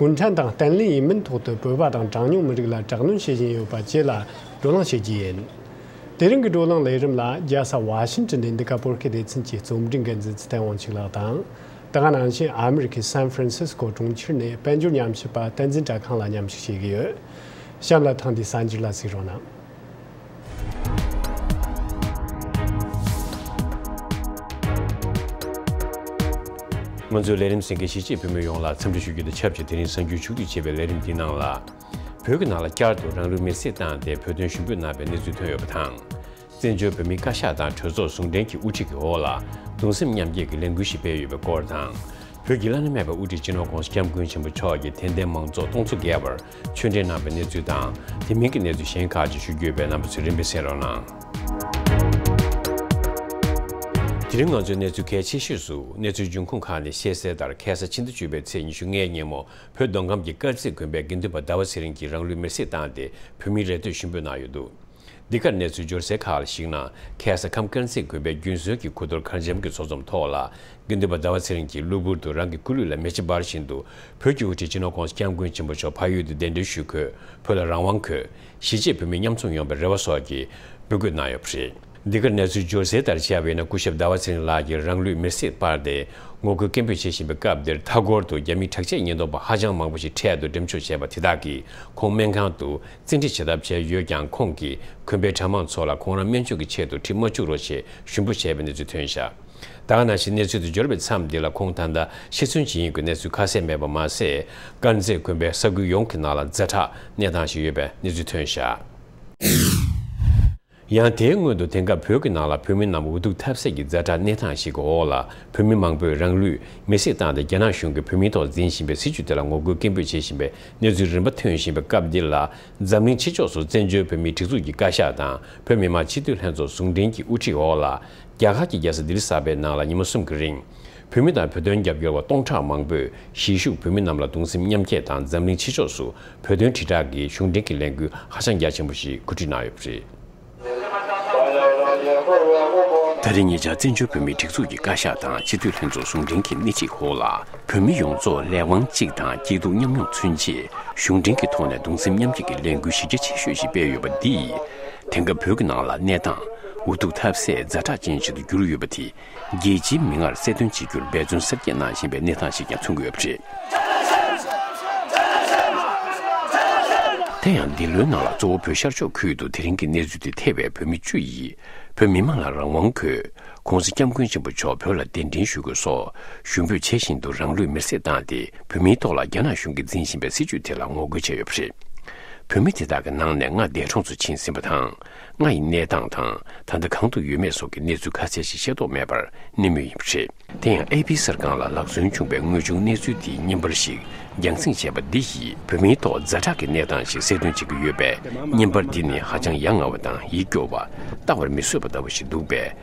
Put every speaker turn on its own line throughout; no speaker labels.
གུང་ཁྲན་ཏང་བརྟན་བརླིང་ཡིན་མིན་ཐོག་ཏུ་བོད་པ་དང་གྲངས་ཉུང་མི་རིགས་ལ་དྲག་གནོན་བྱེད་བཞིན་ཡོད་པ་བཅས་ལ་བགྲོ་གླེང་བྱེད་ཀྱི་ཡིན། དེ་རིང་གི་བགྲོ་གླེང་ལས་རིམ་ལ་རྒྱལ་ས་ཝ་ཤིན་ཏོན་ནས་འདི་ག་པོར་ཁེ་སྡེ་ཚན་གྱི་རྩོམ་སྒྲིག་འགན་འཛིན་ཚེ་ཐན་དབང་ཕྱུག་ལགས་དང། དེ་སྔ་ནང་བཞིན་ཨ་མི་རི་ཁའི San Francisco གྲོང་ཁྱེར་ནས་དཔལ་འབྱོར་ཉམས་ཞིབ་པ་བསྟན་འཛིན་གྲྭ་ཁང་ལ་མཉམ་ཞུགས་བྱེད་ཀྱི་ཡོད། གཤམ་ལ་ཐེངས་འདིའི་གསར་འགྱུར་ལ་གཟིགས་རོགས་གནང།
ང་ཚོས་ལས་རིམ་ཟིན་མཁན་གཞིས་བྱེས་བོད་མི་ཡོངས་ལ་འཚམས་འདྲི་ཞུ་རྒྱུ་དང་ཆབས་ཅིག་དེ་རིང་གསར་འགྱུར་ཕྱུག་བསྒྲིགས་བྱེད་པའི་ལས་རིམ་འདི་ནང་ལ། བོད་ཀྱི་ནང་ལ་བསྐྱར་དུ་རང་ལུས་མེར་སྲེག་བཏང་སྟེ་བོད་དོན་ཞུ་འབོད་གནང་བའི་གནས་ཚུལ་ཐོན་ཡོད་པ་དང། བཙན་བྱོལ་བོད་མིའི་བཀའ་ཤག་དང་གྲོས་ཚོགས་ཟུང་འབྲེལ་གྱིས་དབུ་ཁྲིད་ཀྱི་འོག་ལ་གདུང་སེམས་མཉམ་སྐྱེད་ཀྱི་ལས་འགུལ་ཞིག་སྤེལ་ཡོད་པའི་སྐོར་དང། བོད་ཀྱི་བླ་ན་མེད་པ་དབུ་ཁྲིད་སྤྱི་ནོར ྋགོང་ས ྋསྐྱབས་མགོན་ཆེན་པོ་མཆོག་གིས་དད་ལྡན་མང་ཚོགས་སྟོང་ཚོ་བརྒལ་བར་ཆོས་འབྲེལ་གནང་བའི་གནས་ཚུལ་དང་དེ་མིན་གྱི་གནས་ཚུལ་གཞན་ཁག་ཅིག་ཞུ་རྒྱུ་ཡོད་པའི་རྣམ་པ་ཚོས་རིམ་པས་གསན་རོགས་གནང། དེ་རིང་ང་ཚོས་གནས་ཚུལ་གལ་ཆེ་ཤོས་སུ་གནས་ཚུལ་འབྱུང་ཁུངས་ཁག་ནས་ཤེས་གསལ་ལྟར་གྷལ་ས་ཕྱི་ཟླ་བཅུ་པའི་ཚེས་ཉི་ཤུ་ལྔའི་ཉིན་མོ་བོད་མདོ་ཁམས་ཀྱི་དཀར་མཛེས་དགོན་པའི་དགེ་འདུན་པ་ཟླ་བ་ཚེ་རིང་གིས་རང་ལུས་མེར་བསྲེགས་བཏང་སྟེ་བོད་མི་རེ་ལྟོས་ཤུན་འབོད་གནང་ཡོད་འདུག་འདི་གར་གནས་ཚུལ་འབྱོར་གསལ་ཁག་ལ་གཞིགས་ན་ཁལ་ས་ཁམས་དཀར་མཛེས་དགོན་པའི་རྒྱུན་སྲོལ་གྱི་གུ་དོར་མཁར་འབྱམས་ཀྱི་ཚོགས་ཚོམས་ཐོག་ལ་དགེ་འདུན་པ་ཟླ་བ་ཚེ་རིང་གིས་གློ་བུར་དུ་རང་གི་སྐུ་ལུས་ལ་མེ་ལྕེ་འབར་བཞིན་དུ་བོད་ཀྱི་དབུ་ཁྲིད་སྤྱི་ནོར ྋགོང་ས ྋསྐྱབས་མགོན་ཆེན་པོ་མཆོག་ཕ་ཡུལ་དུ་གདན་འདྲེན་ཞུས་འཁོད་བོད་ལ་རང་དབང་འཁོད་གཞིས་བྱེས་བོད་མི་མཉམ་འཛོམས་ཡོང་པའི་རེ་བ་སོགས་ཀྱི་འབོད་སྐུལ་གནང་ཡོད་པ་རེད། འདི་གར་གནས་ཚུལ་འབྱོར་གསལ་ལྟར་དཔྱད་པ་ཡིན་ན་སྐུ་ཞབས་ཟླ་བ་ཚེ་རིང་ལགས་ཀྱིས་རང་ལུས་མེར་སྲེག་སྤར་ཏེ་ངོ་རྒོལ་སྐད་འབོད་བྱེད་བཞིན་པའི་སྐབས་འདིར་མཐའ་འཁོར་དུ་རྒྱ་མིའི་དྲག་ཆས་ཉེན་རྟོག་པ་ཧ་ཅང་མང་པོ་ཞིག་འཕྲལ་དུ་འགྲེམས་འཇོག་བྱས་པ་དེ་དག་གིས་ཁོང་སྨན་ཁང་དུ་བཙན་ཁྲིད་བྱེད་ཐབས་བྱས་ཡོད་ཀྱང་ཁོང་གིས་གོན་པའི་གྲྭ་མང་ཚོ་ལ་ཁོང་རང་སྨན་བཅོས་ཀྱི་ཆེད་དུ་ཁྲིད་མ་བཅུག་རོགས་ཞེས་ཞུ་འབོད་བྱས་པའི་གནས་ཚུལ་ཐོན། ཞྭ་སྟག་ན་ཞིག་གནས་ཚུལ་དུ་འབྱོར་བའི་མཚམས་འདི་ལ་ཁོང་ད་ལྟ་ཤི་གསོན་བྱེད་ཡིན་དགོས་གནས་ཚུལ་ཁ་གསལ་མེད་པ་མ་ཟད། དཀར་མཛེས་དགོན་པའི་ས་ཁུལ་ཡོངས་ཀྱི་ནང་ལ་རྫ་བྲག་གནས་སྟངས་ཤིག་ཡོད་པའི་གནས་ཚུལ་ཐོན། ཞྭ། ཡང་དེའི་སྔོན་དུ་དེང་སྐབས་བོད་ཀྱི་ནང་ལ་བོད་མི་རྣམས་འུ་ཐུག་ཐབས་ཟད་ཀྱི་རྫ་དྲག་གནས་སྟངས་ཤིག་གི་འོག་ལ་བོད་མི་མང་པོས་རང་ལུས་མེར་སྲེག་བཏང་སྟེ་རྒྱ་ནག་གཞུང་གིས་བོད་མིའི་ཐོག་འཛིན་བཞིན་པའི་སྲིད་བྱུས་དེ་ལ་ངོ་རྒོལ་སྐད་འབོད་བྱེད་བཞིན་པའི་གནས་ཚུལ་རིམ་པ་ཐོན་བཞིན་པའི་སྐབས་འདིར་ལ་འཛམ་གླིང་ཕྱི་ཕྱོགས་སུ་བཙན་བྱོལ་བོད་མིའི་སྒྲིག་འཛུགས་ཀྱི་བཀའ་ཤག་དང་བོད་མི་མང་སྤྱི་འཐུས་ལྷན་ཚོགས་ཟུང་འབྲེལ་གྱི་དབུ་ཁྲིད་འོག་ལ་རྒྱ་གར་གྱི་རྒྱལ་ས་ལྡི་ལི་གསར་པའི་ནང་ལ་ཉིན་མོ་གསུམ་གྱི་རིང། བོད་མི་དང་བོད་དོན་རྒྱབ་སྐྱོར་བ་སྟོང་ཕྲག་མང་པོས་གཞིས་བཞུགས་བོད་མི་རྣམས་ལ་གདུང་སེམས་མཉམ་སྐྱེད་དང་འཛམ་གླིང་ཕྱི་ཕྱོགས་སུ་བོད་དོན་དྲིལ་བསྒྲགས་ཀྱི་གཞུང་འབྲེལ་གྱི་ལས་འགུལ་ཧ་ཅང་རྒྱ་ཆེན་པོ་ཞིག་གོ་སྒྲིག་གནང་ཡོད་པ་རེད། ད་རེས་ཉེ་ཆར་བཙན་བྱོལ་བོད་མིའི་སྒྲིག་འཛུགས་ཀྱི་བཀའ་ཤག་དང་སྤྱི་འཐུས་ལྷན་ཚོགས་ཟུང་འབྲེལ་གྱིས་སྣེ་གཅིག་ཧོར་ལ་བོད་མི་ཡོངས་རྫོགས་ལས་དབང་གཅིག་དང་སྐྱིད་སྡུག་མཉམ་མྱོང་མཚོན་ཆེད་གཞུང་འབྲེལ་གྱི་ཐོག་ནས་གདུང་སེམས་མཉམ་སྐྱེད་ཀྱི་ལས་འགུལ་གཞི་རྒྱ་ཆེ་ཤོས་ཤིག་སྤེལ་ཡོད་པ་འདིས་དེང་སྐབས་བོད་ཀྱི་ནང་ལ་གནས་སྟངས་འུ་ཐུག་ཐབས་ཟད་རྫ་དྲག་ཅན་ཞིག་ཏུ་གྱུར་ཡོད་པ་དེ་རྒྱལ་སྤྱིའི་མིག་སྔར་གསལ་སྟོན་བྱེད་རྒྱུར་འབད་བརྩོན་གསར་སྐྱེས་གནང་བཞིན་པའི་གནས་སྟངས་ཤིག་ཀྱང་མཚོན་གྱི་ཡོད་པ་རེད། དེ་ཡང་འདི་ལོའི་ནང་ལ་གཙོ་བོ་བོད་ཤར་ཕྱོགས་ཁུལ་དུ་དེ་རིང་གི་གནས་ཚུལ་དེ་ཐེ་བའི་བོད་མི་བཅུ་ཡིས་བོད་མི་མང་ལ་རང་དབང་དགོས། གོང་ས་སྐྱབས་མགོན་ཆེན་པོ་མཆོག་བོད་ལ་གདན་འདྲེན་ཞུ་དགོས་སོགས་ཞུ་འབོད་བྱེད་བཞིན་དུ་རང་ལུས་མེར་སྲེག་བཏང་སྟེ་བོད་མིའི་ཐོག་ལ་རྒྱ་ནག་གཞུང་གིས་འཛིན་བཞིན་པའི་སྲིད་བྱུས་དེ་ལ་ངོ་རྒོལ་བྱས་ཡོད་པ་རེད། བོད་མི་དེ་དག་གི་ནང་ནས་ལྔ་འདས་གྲོངས་སུ་ཕྱིན་ཟིན་པ་དང། ལྔ་ཡི་གནས་སྟངས་དང་ད་ལྟ་གང་དུ་ཡོད་མེད་སོགས་ཀྱི་གནས་ཚུལ་ཁ་གསལ་ཞིག་ཤེས་རྟོགས་མེད་པར་གནས་མུས་ཡིན་པ་རེད། དེ་ཡང་ཨེ་ཕི་གསར་ཁང་ལ་ལག་སོན་བྱུང་བའི་དངོས་བྱུང་གནས་ཚུལ་འདིའི་བརྙན་པར་ཞིག་རྒྱང་བསྲིངས་བྱས་པ་འདི་ཡིས་བོད་མིའི་ཐོག་རྫ་དྲག་གི་གནས་སྟངས་ཤིག་གསལ་སྟོན་བྱེད་ཀྱི་ཡོད་པས་བརྙན་པར་འདི་ནི་ཧ་ཅང་ཡ་ང་བ་དང་ཡིད་སྐྱོ་བ། བལྟ་བར་མི་བཟོད་པ་ལྟ་བུ་ཞིག་འདུག་པས།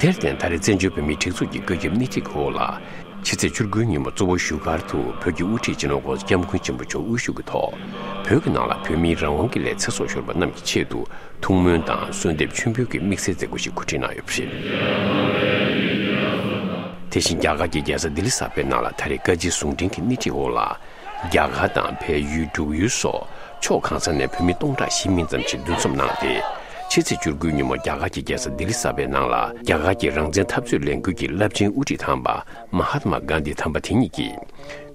དེར་བརྟེན་ད་རེས་བཙན་བྱོལ་བོད་མིའི་སྒྲིག་འཛུགས་ཀྱི་བཀོད་ཁྱབ་སྣེ་ཁྲིད་འོག་ལ། ཕྱི་ཚེས་བཅུ་དགུའི་ཉིན་མོ་གཙོ་བོ་བཞུགས་སྒར་དུ་བོད་ཀྱི་དབུ་ཁྲིད་སྤྱི་ནོར ྋསྐྱབས་མགོན་ཆེན་པོ་མཆོག་དབུ་བཞུགས་ཀྱི་ཐོག་བོད་ཀྱི་ནང་ལ་བོད་མིའི་རང་དབང་གི་ལས་ཚེ་སྲོག་ཤོར་བ་རྣམས་ཀྱི་ཆེད་དུ་ཐུགས་སྨོན་དང་གསོལ་འདེབས་མཆོད་འབུལ་གྱི་དམིགས་བསལ་མཛད་སྒོ་ཞིག་གོ་སྒྲིག་གནང་ཡོད་པ་རེད། དེ་བཞིན་རྒྱ་གར་གྱི་རྒྱལ་ས་ལྡི་ལི་གསར་པའི་ནང་ལ་ད་རེས་བཀའ་སྤྱི་ཟུང་འབྲེལ་གྱི་སྣེ་ཁྲིད་འོག་ལ། རྒྱ་གར་དང་བལ་ཡུལ་འབྲུག་ཡུལ་སོགས་ཕྱོགས་གང་ས་ནས་བོད་མི་སྟོང་ཕྲག་བཞི་མིན་ཙམ་ཞིག་འདུ་འཛོམས་གནང་སྟེ། ཕྱི་ཚེས་བཅུར་དགུན་ཉིན་མོ་རྒྱ་གར་གྱི་རྒྱལ་ས་ལྡི་ལི་གསར་པའི་ནང་ལ་རྒྱ་གར་གྱི་རང་བཙན་འཐབ་རྩོད་ལས་འགུལ་གྱི་རླབས་ཆེན་དབུ་ཁྲིད་དམ་པ་མ་ཧཱ་ཏྨ་གཱན་དྷི་དམ་པ་དེ་ཉིད་ཀྱིས།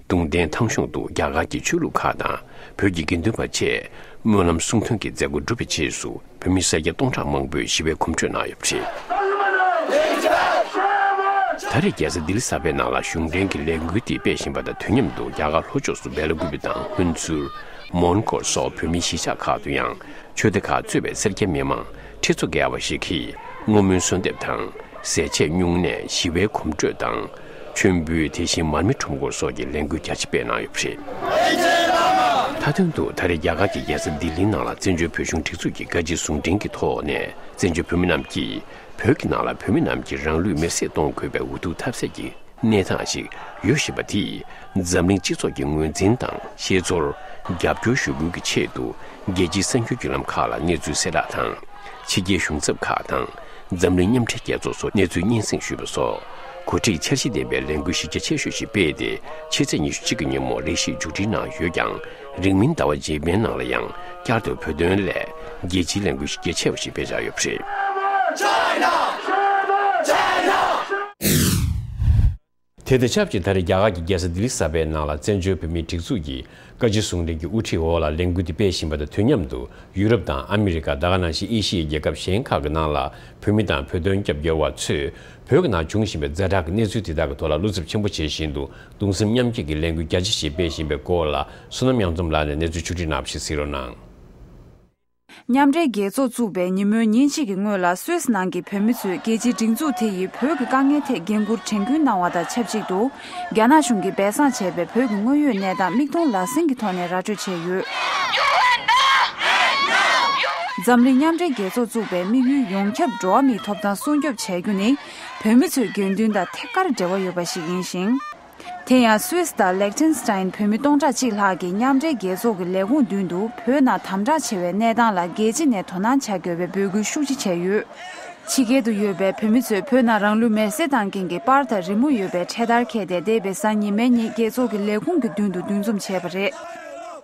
ཏུང་ཏན་ཐང་གཞུང་དུ་རྒྱ་གར་གྱི་ཆོས་ལུགས་ཁག་དང་བོད་ཀྱི་དགེ་འདུན་པ་བཅས་སྨོན་ལམ་གསུང་འདོན་གྱི་མཛད་སྒོ་གྲུབ་པའི་རྗེས་སུ། བོད་མི་སེར་སྐྱ་སྟོང་ཕྲག་མང་པོས་ཞི་བའི་གོམ་བགྲོད་གནང་ཡོད་པ་རེད། ད་རེས་རྒྱལ་ས་ལྡི་ལི་གསར་པའི་ནང་ལ་གཞུང་འབྲེལ་གྱི་ལས་འགུལ་འདི་སྤེལ་བཞིན་པ་དང་དུས་མཉམ་དུ་རྒྱ་གར་ལྷོ་ཕྱོགས་སུ་སྦེ་ལ་གུ་བི་དང་ཧུན་ཚུར། Mongol། སོགས་བོད་མིའི་གཞིས་ཆགས་ཁག་ཏུ་ཡང་ཆོས་སྡེ་ཁག་གཙོས་པའི་སེར་སྐྱ་མི་མང་ཁྲི་ཚོ་བརྒལ་བ་ཞིག་གིས་བསྔོ་སྨོན་གསོལ་འདེབས་དང་ཟས་བཅད་བསྙུང་གནས་ཞི་བའི་གོམ་བགྲོད་དང། མཆོད་འབུལ་དེ་བཞིན་མར་མེ་ཁྲོམ་སྐོར་སོགས་ཀྱི་ལས་འགུལ་རྒྱ་ཆེ་སྤེལ་གནང་ཡོད་པ་རེད། མཐའ་དོན་དུ་ད་རེས་རྒྱ་གར་གྱི་རྒྱལ་ས་ལྡི་ལིའི་ནང་ལ་བཙན་བྱོལ་བོད་གཞུང་སྒྲིག་འཛུགས་ཀྱི་བཀའ་སྤྱི་ཟུང་འབྲེལ་གྱི་ཐོག་ནས་བཙན་བྱོལ་བོད་མི་རྣམས་ཀྱིས་བོད་ཀྱི་ནང་ལ་བོད་མི་རྣམས་ཀྱིས་རང་ལུས་མེར་སྲེག་གཏོང་དགོས་པའི་འུ་ཐུག་ཐབས་ཟད་ཀྱི་གནས་སྟངས་ཤིག་ཡོད་བཞིན་པ་དེས་འཛམ་གླིང་སྤྱི་ཚོགས་ཀྱི་ངོས་འཛིན་དང་ཤེས་ཚོར་རྒྱབ་སྐྱོར་ཞུ་སྐུལ་གྱི་ཆེད་དུ་རྒྱལ་སྤྱིའི་གསར་འགྱུར་བརྒྱུད་ལམ་ཁག་ལ་གནས་ཚུལ་གསལ་བསྒྲགས་དང་ཕྱི་རྒྱལ་གཞུང་ཚབ་ཁག་དང། འཛམ་གླིང་མཉམ་འབྲེལ་རྒྱལ་ཚོགས་སུ་གནས་ཚུལ་སྙན་སེང་ཞུས་པ་སོགས་གོ་སྒྲིག་འཆར་གཞི་ལྡན་པའི་ལས་འགུལ་གཞི་རྒྱ་ཆེ་ཤོས་ཤིག་སྤེལ་ཏེ་ཕྱི་ཚེས་ཉི་ཤུ་གཅིག་གི་ཉིན་མོར་ལས་གཞི་མཇུག་སྒྲིལ་གནང་ཡོད་ཀྱང་རིང་མིན་ཟླ་བ་རྗེས་མའི་ནང་ལ་ཡང་བསྐྱར་དུ་བོད་དོན་སླད་རྒྱལ་སྤྱིའི་ལས་འགུལ་གཞི་རྒྱ་ཆེ་བ་ཞིག་སྤེལ་འཆར་ཡོད་པ་རེད། དེ་དང་ཆབས་ཅིག་ད་རེས་རྒྱ་གར་གྱི་རྒྱལ་ས་ལྡི་ལི་གསར་པའི་ནང་ལ་བཙན་བྱོལ་བོད་མིའི་སྒྲིག་འཛུགས་ཀྱི་བཀའ་སྤྱི་གསུང་འཕྲིན་གྱི་དབུ་ཁྲིད་འོག་ལ་ལས་འགུལ་འདི་སྤེལ་བཞིན་པ་དང་དུས་མཉམ་དུ་ཡུ་རོབ་དང་ཨ་མི་རི་ཀ་ད་ག་ནང་བཞིན་ཨེ་ཤི་ཡའི་རྒྱལ་ཁབ་གཞན་ཁག་གི་ནང་ལ་བོད་མི་དང་བོད་དོན་རྒྱབ་སྐྱོར་བ་ཚོས་བོད་ཀྱི་ནང་འབྱུང་བཞིན་པའི་རྫས་ཁྲག་གི་གནས་ཚུལ་དེ་དག་གི་ཐོག་ལ་བློ་འཚབ་ཆེན་པོ་བྱེད་བཞིན་འདུག་གདུང་སེམས་མཉམ་སྐྱེད་ཀྱི་ལས་འགུལ་རྒྱ་ཆེ་ཞིག་སྤེལ་བཞིན་པའི་སྐོར་ལ་བསོད་ནམས་དབྱངས་འཛོམས་ལགས་ནས་གནས་ཚུལ་ཆུང་འདྲིས་ནག་པོ་ཞིག་གཟིགས་རོགས་གནང།
མཉམ་འབྲེལ་རྒྱལ་ཚོགས་བཙུགས་པའི་ཉིན་མོའི་ཉིན་གཅིག་གི་སྔོན་ལ་སུད་ནང་གི་བོད་མི་ཚོས་རྒྱལ་སྤྱིའི་སྒྲིག་འཛུགས་དེ་ཡིས་བོད་ཀྱི་དཀའ་ངལ་ཐད་འགན་ཁུར་དྲན་སྐུལ་གནང་བ་དང་ཆབས་ཅིག་ཏུ། རྒྱ་ནག་གཞུང་གིས་སྦས་གསང་བྱས་པའི་བོད་ཀྱི་དངོས་ཡོད་གནས་སྟངས་མིག་མཐོང་ལག་ཟིན་གྱི་ཐོག་ནས་ར་སྤྲོད་བྱས་ཡོད། འཛམ་གླིང་མཉམ་འབྲེལ་རྒྱལ་ཚོགས་བཙུགས་པའི་དམིགས་ཡུལ་ཡོངས་ཁྱབ་འགྲོ་བ་མིའི་ཐོབ་ཐང་སྲུང་སྐྱོབ་བྱ་རྒྱུ་ནི། བོད་མི་ཚོའི་དགེ་འདུན་དང་ཐད་ཀར་འབྲེལ་བ་ཡོད་པ་ཞིག་ཡིན་ཞིང། དེ་ཡང Swiss དང Liechtenstein བོད་མི་སྟོང་ཕྲག་གཅིག་ལྷག་གིས་མཉམ་འབྲེལ་རྒྱལ་ཚོགས་ཀྱི་ལས་ཁུངས་མདུན་དུ་བོད་ནང་དམ་དྲག་ཆེ་བའི་གནས་སྟངས་ལ་རྒྱལ་སྤྱི་ནས་དོ་སྣང་བྱ་དགོས་པའི་འབོད་སྐུལ་ཤུགས་ཆེ་བྱས་ཡོད། ཕྱི་རྒྱལ་དུ་ཡོད་པའི་བོད་མི་ཚོས་བོད་ནང་རང་ལུས་མེར་སྲེག་བཏང་མཁན་གྱི་པར་དང་རི་མོ་ཡོད་པའི་འཕྲེད་དར་འཁྱེར་ཏེ་འདས་པའི་གཟའ་ཉི་མའི་ཉིན་རྒྱལ་ཚོགས་ཀྱི་ལས་ཁུངས་ཀྱི་མདུན་དུ་འདུ་འཛོམས་བྱས་པ་རེད།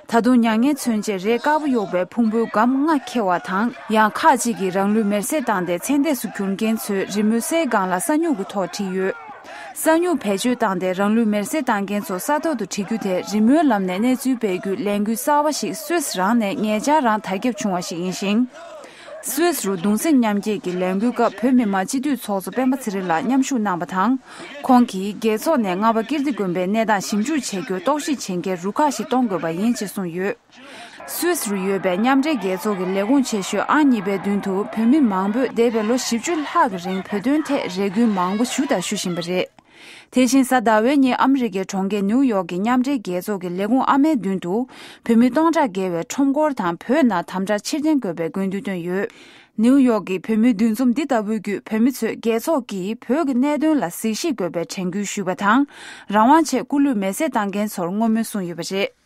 ད་དུང་མྱ་ངན་མཚོན་ཆེད་རས་དཀར་པོ་གཡོགས་པའི་ཕུང་པོའི་སྒམ་ལྔ་འཁྱེར་བ་དང་ཡང་ཁག་ཅིག་གིས་རང་ལུས་མེར་སྲེག་བཏང་སྟེ་མཚན་ལྟས་སུ་གྱུར་མཁན་ཚོའི་རི་མོ་གསེར་སྒང་ལ་ས་སྨྱུག་གི་ཐོག་བྲིས་ཡོད། ས་སྨྱུག་བེད་སྤྱོད་བཏང་སྟེ་རང་ལུས་མེར་བསྲེགས་བཏང་མཁན་ཚོ་ས་ཐོག་ཏུ་འཁྲིད་རྒྱུ་དེ་རི་མོའི་ལམ་ནས་གནས་ཚུལ་སྤེལ་རྒྱུའི་ལས་འགུལ་གསར་བ་ཞིག་སུད་རང་ནས་ངེད་ཅག་རང་དར་ཁྱབ་བྱུང་བ་ཞིག་ཡིན་ཞིང། སུད་རུ་གདུང་སེམས་མཉམ་སྐྱེད་ཀྱི་ལས་འགུལ་སྐབས་བོད་མི་མང་སྤྱི་འཐུས་ཚོགས་གཙོ་སྤེན་པ་ཚེ་རིང་ལགས་མཉམ་ཞུགས་གནང་བ་དང། ཁོང་གིས་རྒྱལ་ཚོགས་ནས་རྔ་པ་ཀིརྟི་དགོན་པའི་གནས་སྟངས་ཞིབ་འཇུག་བྱེད་རྒྱུར་རྟོག་ཞིབ་བྱེད་མཁན་རུ་ཁག་ཞིག་གཏོང་དགོས་པ་ཡིན་ཅེས་གསུངས་ཡོད། སུད་སི་རུ་ཡོད་པའི་མཉམ་འབྲེལ་རྒྱལ་ཚོགས་ཀྱི་ལས་ཁུངས་ཆེ་ཤོས་ཨང་གཉིས་པའི་མདུན་དུ་བོད་མི་མང་པོས་འདས་པའི་ལོ་བཞི་བཅུ་ལྷག་གི་རིང་བོད་དོན་ཐད་རེ་སྐུལ་མང་པོ་ཞུ་དང་ཞུ་བཞིན་པ་རེད། དེ་བཞིན་གཟའ་ཟླ་བའི་ཉིན་ཨ་མི་རི་ཀའི་གྲོང་ཁྱེར་ནེའུ་ཡོག་གི་མཉམ་འབྲེལ་རྒྱལ་ཚོགས་ཀྱི་ལས་ཁུངས་ཨ་མའི་མདུན་དུ་བོད་མི་སྟོང་ཕྲག་བརྒལ་བས་ཁྲོམ་སྐོར་དང་བོད་ནང་དམ་དྲག་ཕྱིར་འཐེན་དགོས་པའི་དགོས་འདུན་བཏོན་ཡོད། ནེའུ་ཡོག་གི་བོད་མིའི་འདུ་འཛོམས་འདི་ལྟ་བུའི་བརྒྱུད་བོད་མི་ཚོས་རྒྱལ་ཚོགས་ཀྱིས་བོད་ཀྱི་གནད་དོན་ལ་གཟིགས་ཞིབ་དགོས་པའི་དྲན་སྐུལ་ཞུས་པ་དང་རང་དབང་ཆེད་སྐུ་ལུས་མེ་བསྲེགས་བཏང་མཁན་ཚོར་བསྔོ་སྨོན་གསུངས་ཡོད་པ་རེད།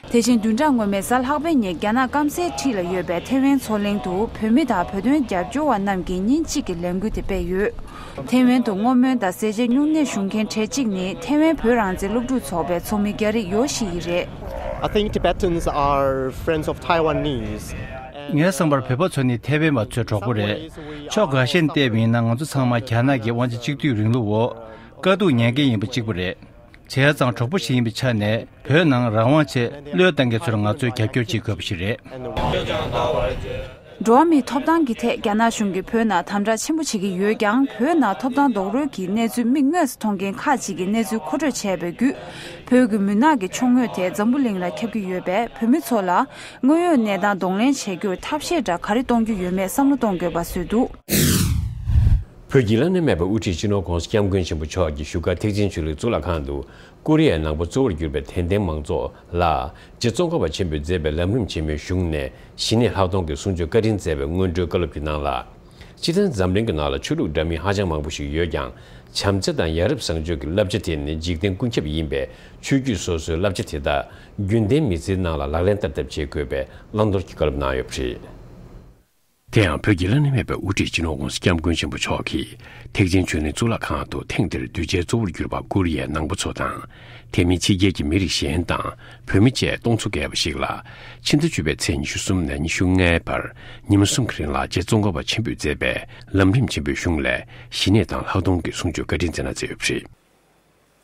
དེ་བཞིན་བདུན་ཕྲག་སྔོན་མའི་གཟའ་ལྷག་པའི་ཉིན་རྒྱ་ནག་སྐམ་སའི་འཁྲིས་ལ་ཡོད་པའི་ཐེ་ཝན་མཚོ་གླིང་དུ་བོད་མི་དང་བོད་དོན་རྒྱབ་སྐྱོར་བ་རྣམས་ཀྱིས་ཉིན་གཅིག་གི་ལས་འགུལ་དེ་སྤེལ་ཡོད། ཐེ་ཝན་དུ་བསྔོ་སྨོན་དང་ཟས་བཅད་བསྙུང་གནས་ཞུ་མཁན་གྲས་གཅིག་ནི་ཐེ་ཝན་བོད་རང་བཙན་སློབ་ཕྲུག་ཚོགས་པའི་ཚོགས་མི་རྒྱ་རིགས་ཡོ་ཤི་ཡི་རེད། ངའི་
བསམ་པར་
བོད་པ་ཚོ་ནི་ཐེ་ཝན་བ་ཚོའི་གྲོགས་པོ་རེད། ཕྱོགས་ག་ཤེད་ནས་བལྟས་པ་ཡིན་ན་ང་ཚོ་ཚང་མ་རྒྱ་ནག་གི་དབང་ཆ་གཅིག་སྡུད་རིང་ལུགས་འོག་དཀའ་སྡུག་མྱངས་མཁན་ཡིན་པ་གཅིག་པུ་རེད། བྱས་ཙང་གྲོགས་པོ་ཞིག་ཡིན་པའི་ཆ་ནས་བོད་ནང་རང་དབང་ཆེད་བློས་བཏང་མཁན་ཚོར་ང་ཚོས་རྒྱབ་སྐྱོར་བྱེད་དགོས་པ་ཞིག་རེད། འགྲོ་
བ་མིའི་ཐོབ་ཐང་གི་ཐད་རྒྱ་ནག་གཞུང་གིས་བོད་ནང་དམ་དྲག་ཆེན་པོ་བྱེད་ཀྱི་ཡོད་ཀྱང་བོད་ནང་ཐོབ་ཐང་རྡོག་རོལ་གྱི་གནས་ཚུལ་མིག་དངོས་སུ་མཐོང་མཁན་ཁག་ཅིག་གིས་གནས་ཚུལ་མཁོ་སྤྲོད་བྱས་པའི་བརྒྱུད་བོད་ཀྱི་མུན་ནག་གི་ཕྱོགས་ངོས་དེ་འཛམ་བུ་གླིང་ལ་ཁྱབ་ཀྱི་ཡོད་པས་བོད་མི་ཚོ་ལ་དངོས་ཡོད་གནས་སྟངས་གདོང་ལེན་བྱེད་རྒྱུར་ཐབས་ཤེས་འདྲ་ག་རེ་གཏོང་རྒྱུ་ཡོད་མེད་བསམ་བློ་གཏོང་དགོས་པ་བཟོས་འདུག། བོད་ཀྱི་བླ་
ན་མེད་པའི་དབུ་ཁྲིད་སྤྱི་ནོར ྋགོང་ས ྋསྐྱབས་མགོན་ཆེན་པོ་མཆོག་གི་བཞུགས་སྒར་ཐེག་ཆེན་ཆོས་ལུགས་གཙུག་ལག་ཁང་དུ་ཀོ་རི་ཡའི་ནང་པ་གཙོ་བོར་གྱུར་པའི་དད་ལྡན་མང་ཚོགས་ལ་རྗེ་བཙོན་སྒར་བ་ཆེན་པོས་མཛད་པའི་ལམ་རིམ་ཆེན་མོའི་གཞུང་ནས་ཞི་གནས་ལྷག་མཐོང་གི་གསུང་ཆོས་བཀའ་དྲིན་སྩལ་བའི་སྔོན་འགྲོའི་བཀའ་སློབ་ཀྱི་ནང་ལ། སྤྱིར་བཏང་འཛམ་གླིང་གི་ནང་ལ་ཆོས་ལུགས་འདྲ་མིན་ཧ་ཅང་མང་པོ་ཞིག་ཡོད་ཀྱང་བྱམས་བརྩེ་དང་ཡ་རབས་བཟང་སྤྱོད་ཀྱི་བསླབ་བྱ་དེ་ནི་འཇིག་རྟེན་ཀུན་ཁྱབ་ཡིན་པས་ཆོས་བརྒྱུད་སོ་སོའི་བསླབ་བྱ་དེ་དག་རྒྱུན་ལྡན་མི་ཚེའི་ནང་ལ་ལག་ལེན་བསྟར་ཐབས་བྱེད་དགོས་པའི་བླང་དོར་གྱི་བཀའ་སློབ་གནང་ཡོད་པ་རེད། དེ་ཡང་བོད་ཀྱི་བླ་ན་མེད་པའི་དབུ་ཁྲིད་སྤྱི་ནོར་ཝུན་སྐྱབས་མགོན་ཆེན་པོ་མཆོག་གིས་ཐེག་ཆེན་ཆོས་གླིང་གཙུག་ལག་ཁང་དུ་ཐེངས་འདིར་གདུལ་བྱའི་གཙོ་བོར་གྱུར་པ་བཀུར་དབྱེ་ནང་པ་ཚོ་དང་དེ་མིན་ཕྱི་རྒྱལ་གྱི་མི་རིགས་གཞན་དང་བོད་མི་བཅས་སྟོང་ཚོ་བརྒལ་བ་ཞིག་ལ་ཕྱི་ཟླ་བཅུ་པའི་ཚེས་ཉི་ཤུ་གསུམ་ནས་ཉི་ཤུ་ལྔའི་བར་ཉིན་མོ་གསུམ་གྱི་རིང་ལ་རྗེ་བཙོང་དགའ་བ་ཆེན་པོས་མཛད་པའི་ལམ་རིམ་ཆེན་པོའི་གཞུང་ལས་གཞི་གནས་དང་ལྷག་མཐོང་གི་གསུང་ཆོས་བཀའ་དྲིན་མཛད་ན་མཛད་འོས་པ་རེད།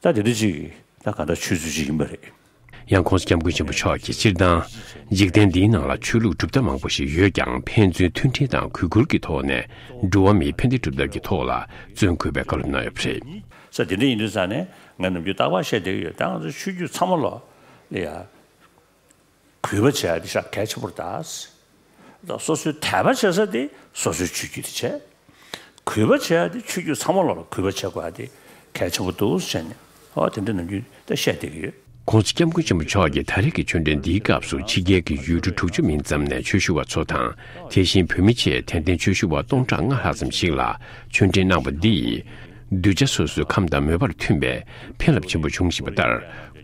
ད་དེ་འདྲ་ཅིག་ད་ག་འདྲ་ཆོས་ཚུལ་ཅིག་ཡིན་པ་རེད། ཡང་ཁོང་སྐྱབས་
མགོན་ཆེན་པོ་མཆོག་གིས་སྤྱིར་བཏང། འཇིག་རྟེན་འདིའི་ནང་ལ་ཆོས་ལུགས་གྲུབ་མཐའ་མང་པོ་ཞིག་ཡོད་ཀྱང་ཕན་ཚུན་མཐུན་སྒྲིལ་དང་གུས་བཀུར་གྱི་ཐོག་ནས་འགྲོ་བ་མིའི་ཕན་བདེ་སྒྲུབ་ཐབས་ཀྱི་ཐོག་ལ་བརྩོན་དགོས་པའི་བཀའ་སློབ་གནང་ཡོད་པ་རེད། ས་དེ་འདྲ་ཡིན་དུས་
ཚར་ནས་ངས་ནམ་རྒྱུན་རྟག་པར་བཤད་བསྡད་ཀྱི་ཡོད་ད་ང་ཚོ་ཆོས་བརྒྱུད་ཚང་མ་ལོག་ལེ་ཡ། གུས་པ་བྱས་ཏེ་བྱ་སྐད་ཆེན་པོར་གདའ། སོ་སོའི་དད་པ་བྱེད་ས་དེ་སོ་སོའི་ཆོས་བརྒྱུད་དུ་བྱས། གུས་པ་བྱས་ཏེ་ཆོས་བརྒྱུད་ཚང་མ་ལ་གུས་པ་བྱེད་དགོས་པ་དེ་གལ་ཆེན་པོ་འདུག་ཟེར་ནས་དེ་འདྲ་ནམ་རྒྱུན་ད་བཤད་བསྡད་ཀྱི་ཡོད། ཁོང་ཚོ་སྐྱབས་མགོན་ཆེན་པོ་
མཆོག་གིས་ད་རེས་ཀྱི་ཆོས་འབྲེལ་འདིའི་སྐབས་སུ་ཕྱི་རྒྱལ་གྱི་ཡུལ་གྲུ་དྲུག་ཅུ་མིན་ཙམ་ནས་ཆོས་ཞུ་བ་ཚོ་དང་དེ་བཞིན་བོད་མི་ཆེས་དད་ལྡན་ཆོས་ཞུ་བ་སྟོང་ཕྲག་ལྔ་ལྷག་ཙམ་ཞིག་ལ་ཆོས་འབྲེལ་གནང་བ་འདིས། གདུལ་བྱ་སོ་སོའི་ཁམས་དང་མོས་པར་མཐུན་པའི་ཕན་རླབས་ཆེན་པོ་འབྱུང་བཞིན་པ་ལྟར།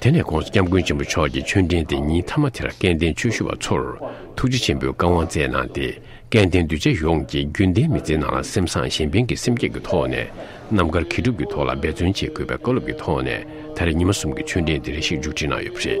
དེ་ནས་ཁོང་སྐྱབས་མགོན་ཆེན་པོ་མཆོག་གི་མཆོད་འབྲེལ་དེ་ཉིན་མཐའ་མ་དེར་སྐལ་ལྡན་ཆོས་ཞུ་བ་ཚོར་ཐུགས་རྗེ་ཆེན་པོས་བཀའ་དབང་སྩལ་གནང་སྟེ་སྐལ་ལྡན་གདུལ་བྱ་ཡོངས་ཀྱི་རྒྱུན་གཏན་མི་ཚེའི་ནང་ལ་སེམས་བཟང་གཞན་ཕན་གྱི་སེམས་བསྐྱེད་ཀྱི་ཐོག་ནས་རྣམ་དཀར་མཁས་གྲུབ་ཀྱི་ཐོག་ལ་འབད་བརྩོན་བྱེད་དགོས་པའི་བཀའ་སློབ་ཀྱི་ཐོག་ནས་ད་རེས་ཉི་མ་གསུམ་གྱི་མཆོད་འབྲེལ་འདི་རེ་ཞིག་མཇུག་སྒྲིལ་གནང་ཡོད་པ་རེད།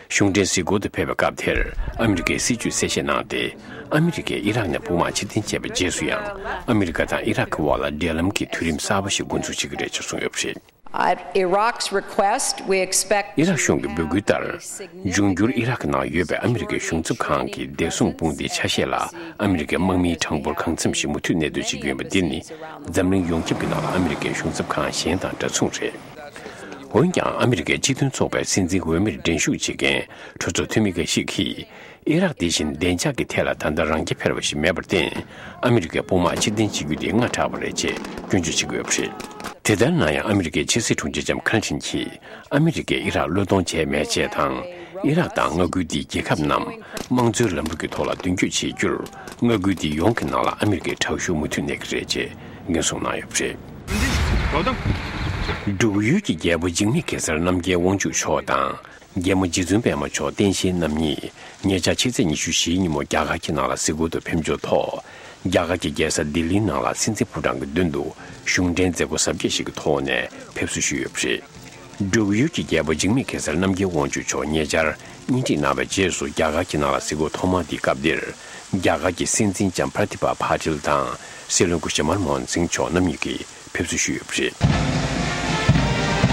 གཞུང་འབྲེལ་གཟིགས་སྐོར་དུ་ཕེབས་པའི་སྐབས་དེར་ཨ་མི་རི་ཀའི་སྲིད་བྱུས་གསལ་བཤད་གནང་སྟེ། ཨ་མི་རི་ཀས་ཨི་རག་ནས་དཔུང་དམག་ཕྱིར་འཐེན་བྱས་པའི་རྗེས་སུ་ཡང་ཨ་མི་རི་ཀ་དང་ཨི་རག་གི་དབར་ལ་འབྲེལ་ལམ་གྱི་དུས་རིམ་གསར་པ་ཞིག་མགོ་འཛུགས་བྱེད་ཀྱི་རེད་ཅེས་གསུངས་ཡོད་
པ་རེད། ཨི་རག་གཞུང་གི་འབོད་སྐུལ་
ལྟར། འབྱུང་འགྱུར་ཨི་རག་གི་ནང་ཡོད་པའི་ཨ་མི་རི་ཀའི་གཞུང་ཚབ་ཁང་གི་བདེ་སྲུང་དཔུང་སྡེའི་ཆ་ཤས་ལ་ཨ་མི་རི་ཀའི་དམག་མིའི་གྲངས་འབོར་གང་འཚམས་ཤིག་མུ་མཐུད་གནས་སྡོད་བྱེད་ཀྱི་ཡོད་པ་འདི་ནི་འཛམ་གླིང་ཡོངས་ཁྱབ་ཀྱི་ནང་ལ་ཨ་མི་རི་ཀའི་གཞུང་ཚབ་ཁང་གཞན་དང་འདྲ་མཚུངས་རེད། འོན་ཀྱང་ཨ་མི་རི་ཀའི་སྤྱི་མཐུན་ཚོགས་པའི་སྲིད་འཛིན་འོས་མིར་འགྲན་ཞུགས་བྱེད་མཁན་གྲོས་ཚོགས་འཐུས་མི་འགའ་ཞིག་གིས། ཨི་རག་འདི་བཞིན་བདེ་འཇགས་ཀྱི་ཐད་ལ་ད་ལྟ་རང་རྐྱ་འཕེར་བ་ཞིག་མེད་པར་བརྟེན་ཨ་མི་རི་ཀའི་དཔུང་དམག་ཕྱིར་འཐེན་བྱེད་རྒྱུ་དེ་སྔ་དྲགས་པ་རེད་ཅེས་སྐྱོན་བརྗོད་བྱེད་ཀྱི་ཡོད་པ་རེད། དེ་ལྟར་ན་ཡང་ཨ་མི་རི་ཀའི་ཕྱི་སྲིད་དྲུང་ཆེ་ཇམ་ཁཱན་ཆིན་གྱིས་ཨ་མི་རི་ཀས་ཨི་རག་བློས་གཏོང་བྱས་མེད་ཅེས་དང། ཨི་རག་དང་མངའ་ཁུལ་འདིའི་རྒྱལ་ཁབ་རྣམས་དམངས་གཙོའི་ལམ་ལུགས་ཀྱི་ཐོག་ལ་མདུན་སྐྱོད་བྱེད་རྒྱུར་མངའ་ཁུལ་འདི་ཡོངས་ཀྱི་ནང་ལ་ཨ་མི་རི་ཀའི་དྲག་ཤུགས་མུ་མཐུད་གནས་ཀྱི་རེད་ཅེས་ཉོ་ཚོང་གནང་ཡོད་པ་རེད། འབྲུག་ཡུལ་གྱི་རྒྱལ་པོ་འཇིགས་མེད་གེ་སར་རྣམ་རྒྱལ་དབང་ཕྱུག་མཆོག་དང་རྒྱལ་མོ་རྗེ་བཙུན་པདྨ་མཆོག་བསྟན་བཤེས་རྣམ་གཉིས་ཉེ་ཆར་ཕྱི་ཚེས་ཉི་ཤུ་བཞིའི་ཉིན་མོ་རྒྱ་གར་གྱི་ནཱ་ལ་གཟིགས་སྐོར་དུ་ཕེབས་འབྱོར་ཐོག་རྒྱ་གར་གྱི་རྒྱལ་ས་ལྡི་ལིའི་ནང་ལ་སྲིད་འཛིན་ཕོ་བྲང་གི་མདུན་དུ་གཞུང་འབྲེལ་མཛད་སྒོ་གཟབ་རྒྱས་ཤིག་གི་ཐོག་ནས་ཕེབས་བསུ་ཞུས་ཡོད་པ་རེད། འབྲུག་ཡུལ་གྱི་རྒྱལ་པོ་འཇིགས་མེད་གེ་སར་རྣམ་རྒྱལ་དབང་ཕྱུག་མཆོག་ཉེ་ཆར་སྙིང་ཁྲིད་གནང་བའི་རྗེས་སུ་རྒྱ་གར་གྱི་ནང་ལ་སྲིད་འགོ་ཐོག་མར་འདིའི་སྐབས་འདིར་རྒྱ་གར་གྱི་སྲིད་འཛིན་ལྕམ Pratibha Patil དང་སྲིད་བློན་སྐུ་ཞབས Manmohan Singh མཆོག་རྣམ་གཉིས་ཀྱིས་ཕེབས་བསུ་ཞུས་ཡོད་པ་རེད།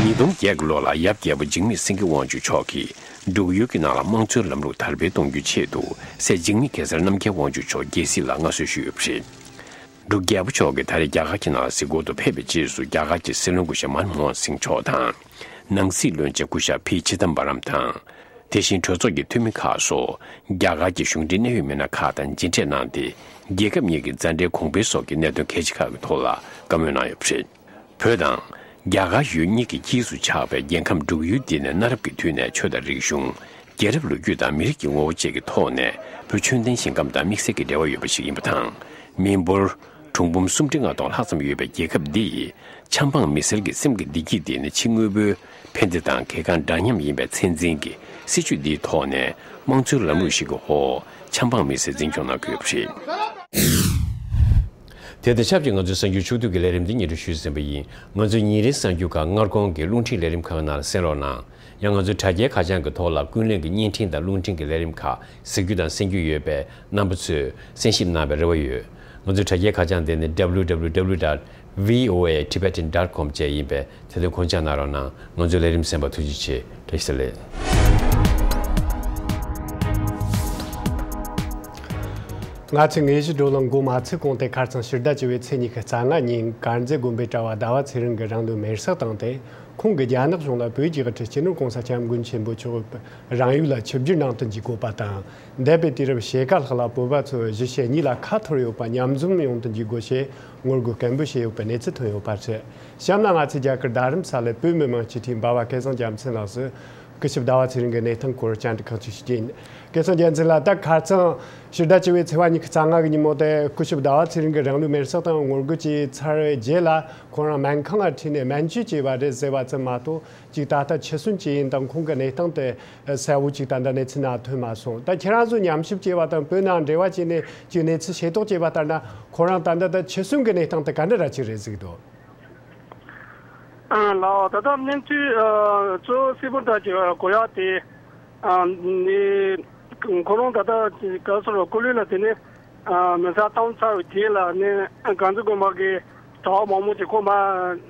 ཉིས་སྟོང་བརྒྱད་ཀྱི་ལོ་ལ་ཡབ་རྒྱལ་པོ་འཇིགས་མེད་སེང་གེ་དབང་ཕྱུག་མཆོག་གིས་འབྲུག་ཡུལ་གྱི་ནང་ལ་དམངས་གཙོའི་ལམ་ལུགས་དར་སྤེལ་གཏོང་རྒྱུའི་ཆེད་དུ་སྲས་འཇིགས་མེད་གེ་སར་རྣམ་རྒྱལ་དབང་ཕྱུག་མཆོག་རྒྱལ་སྲིད་ལ་མངའ་གསོལ་ཞུས་ཡོད་པ་རེད། འདུག་རྒྱལ་པོ་མཆོག་གིས་ད་རེས་རྒྱ་གར་གྱི་ནང་སྲིད་སྐོར་དུ་ཕེབས་པའི་རྗེས་སུ་རྒྱ་གར་གྱི་སྲིད་བློན་སྐུ་ཞབས་མཱན་མོཧན་སིང་མཆོག་དང། ནང་སྲིད་བློན་ཆེན་སྐུ་ཞབས་བྷི་ཆི་དམ་པ་རམ་དང། དེ་བཞིན་གྲོས་ཚོགས་ཀྱི་འཐུས་མི་ཁག་སོགས་རྒྱ་གར་གྱི་གཞུང་འབྲེལ་གནད་ཡོད་མི་སྣ་ཁག་དང་མཇལ་འཕྲད་གནང་སྟེ་རྒྱལ་ཁབ་གཉིས་ཀྱི་མཛའ་འབྲེལ་གོང་འཕེལ་སོགས་ཀྱི་གནད་དོན་གལ་ཆེ་ཁག་གི་ཐོག་ལ་བཀའ་མོལ་གནང་ཡོད་པ་རེད། བོད་དང། རྒྱ་གར་ཡུལ་གཉིས་ཀྱི་དཀྱིལ་དུ་ཆགས་པའི་རྒྱལ་ཁམས་འབྲུག་ཡུལ་འདི་ནས་གནའ་རབས་ཀྱི་དུས་ནས་ཆོས་དང་རིག་གཞུང། རྒྱལ་རབས་ལོ་རྒྱུས་དང་མི་རིགས་ཀྱི་ངོ་བོ་བཅས་ཀྱི་ཐོག་ནས་བོད་ཆོས་ལྡན་ཞིང་ཁམས་དང་དམིགས་བསལ་གྱི་འབྲེལ་བ་ཡོད་པ་ཞིག་ཡིན་པ་དང། མི་འབོར། གྲུང་འབུམ་སུམ་ཁྲི་ལྔ་སྟོང་ལྷག་ཙམ་ཡོད་པའི་རྒྱལ་ཁབ་འདི་ཡི། ཆབ་འབངས་མི་སེར་གྱི་སེམས་ཀྱི་བདེ་སྐྱིད་དེ་ནི་ཕྱི་དངོས་པོའི་ཕན་བདེ་དང་གལ་འགངས་འདྲ་མཉམ་ཡིན་པའི་ཚད་འཛིན་གྱི་སྲིད་ཇུས་འདིའི་ཐོག་ནས་དམངས་གཙོའི་ལམ་ལུགས་ཤིག་གི་འོག་ཆབ་འབངས་མི་སེར་འཛིན་སྐྱོང་གནང་དགོས་པ་རེད། དེ་དང་ཆབས་ཅིག་ང་ཚོའི་གསར་འགྱུར་ཕྱོགས་བསྡུས་ཀྱི་ལས་རིམ་འདི་ཉིན་རེར་ཞུས་ཟིན་པ་ཡིན། ང་ཚོས་ཉིན་རེའི་གསར་འགྱུར་ཁག་སྔར་གོང་གི་རླུང་འཕྲིན་ལས་རིམ་ཁག་ནང་གསན་རོགས་གནང། ཡང་ང་ཚོའི་དྲ་རྒྱའི་ཁ་བྱང་གི་ཐོག་ལ་ཀུན་གླེང་གི་བརྙན་འཕྲིན་དང་རླུང་འཕྲིན་གྱི་ལས་རིམ་ཁག་གཟིགས་རྒྱུ་དང་གསན་རྒྱུ་ཡོད་པས་རྣམ་པ་ཚོས་གསན་ཞིབ་གནང་བའི་རེ་བ་ཡོད། ང་ཚོའི་དྲ་རྒྱའི་ཁ་བྱང་དེ་ནི www. voatibetan. com བཅས་ཡིན་པས་ཚེ་ལོས་ཁོང་ཅག་ནག་རོག་གནང། ང་ཚོའི་ལས་རིམ་སེམས་པ་ཐུགས་རྗེ་ཆེ། བཀྲ་ཤིས་ལེགས།
ང་ཚོས་ངེད་གཞིས་འགྲོ་ལ་མགོ་མ་ཚོས་གོང་སྟེ་ཁར་ཚང་ཕྱི་ཟླ་བཅུ་བའི་ཚེས་གཉིས་ཀྱི་རྩ་ལྔ་ཉིན་དཀར་མཛེས་དགོན་པའི་གྲྭ་བ་ཟླ་བ་ཚེ་རིང་གི་རང་ལུས་མེར་བསྲེགས་བཏང་སྟེ་ཁོང་གིས་རྒྱ་ནག་གཞུང་ལ་བོད་ཀྱི་དབུ་ཁྲིད་སྤྱི་ནོར་གོང་ས་སྐྱབས་མགོན་ཆེན་པོ་མཆོག་གི་རང་ཡུལ་ལ་ཆིབས་བསྒྱུར་གནང་དོན་གྱི་དགོས་པ་དང་འདས་པའི་དུས་རབས་ཕྱེད་ཀ་ལྷག་ལ་བོད་པ་ཚོས་གཞིས་བྱེས་གཉིས་ལ་ཁ་འཐོར་ཡོད་པ་མཉམ་འཛོམས་ཡོང་དོན་གྱི་དགོས་ཆེད་ངོ་རྒོལ་སྐད་འབོད་བྱས་ཡོད་པའི་གནས་ཚུལ་ཐོན་ཡོད་པ་རེད། གཤམ་ལ་ང་ཚོས་རྒྱ་གར་རྡ་རམ་ས་ལའི་བོད་མི་མང་སྤྱི་འཐུས་འབའ་བ་སྐལ་བཟང་རྒྱལ་མཚན་ལགས་སུ། སྐུ་ཞབས་ཟླ་བ་ཚེ་རིང་གི་གནས་སྟངས་སྐོར་བཅར་འདྲི་ཁག་ཅིག་ཞུས་རྗེས། སྐལ་བཟང་རྒྱལ་མཚན་ལ་ད་གར་ཚང། ཕྱི་ཟླ་བཅུ་བའི་ཚེས་བ་ཉི་ཤུ་རྩ་ལྔ་གི་ཉིན་མོ་དེར་སྐུ་ཞབས་ཟླ་བ་ཚེ་རིང་གིས་རང་ལུས་མེར་བསྲེགས་དང་ངོ་རྒོལ་བྱས་ཚར་བའི་རྗེས་ལ་ཁོང་རང་སྨན་ཁང་ལ་ཁྲིད་ནས་སྨན་བཅོས་བྱས་པ་རེད་ཟེར་བ་ཙམ་མ་གཏོགས་ཅིག་ད་ལྟ་འཆི་གསོན་ཇི་ཡིན་དང་ཁོང་གི་གནས་སྟངས་དེ་གསལ་བོ་ཅིག་དང་འདྲ་གནས་ཚུལ་ནང་ཐོན་མ་སོང་ད་ཁྱེད་རང་ཚོ་ཉམས་ཞིབ་བྱས་པ་དང་བོད་ནང་འབྲེལ་བ་བྱས་ནས་ཀྱི་གནས་ཚུལ་ཤེས་རྟོགས་བྱས་པ་ལྟར་ན་ཁོ་རང་ད་ལྟ་ད་ཕྱི་གསུམ་གྱི་གནས་སྟངས་དེ་ག་འདྲ་ར་ཅིག་རེད་གཟིགས་འདུག། ལགས་ད་ལྟ་གནས་ཚུལ་གཙོ་བོ་སེ་པོ་ཏཱ་ཀྱི་གོ་ཡག་དེ་ནི་ཁོ་རང་ད་ལྟ་ག་སོ་ར་སྐུ་ལུས་ལ་དེ་ནས་མི་ཚ་གཏམ་ཚ་བའི་རྗེས་ལ་ནས་གངས་རི་དགོན་པ་གི་གྲྭ་བ་མང་མོ་ཅིག་ཁོ་མ་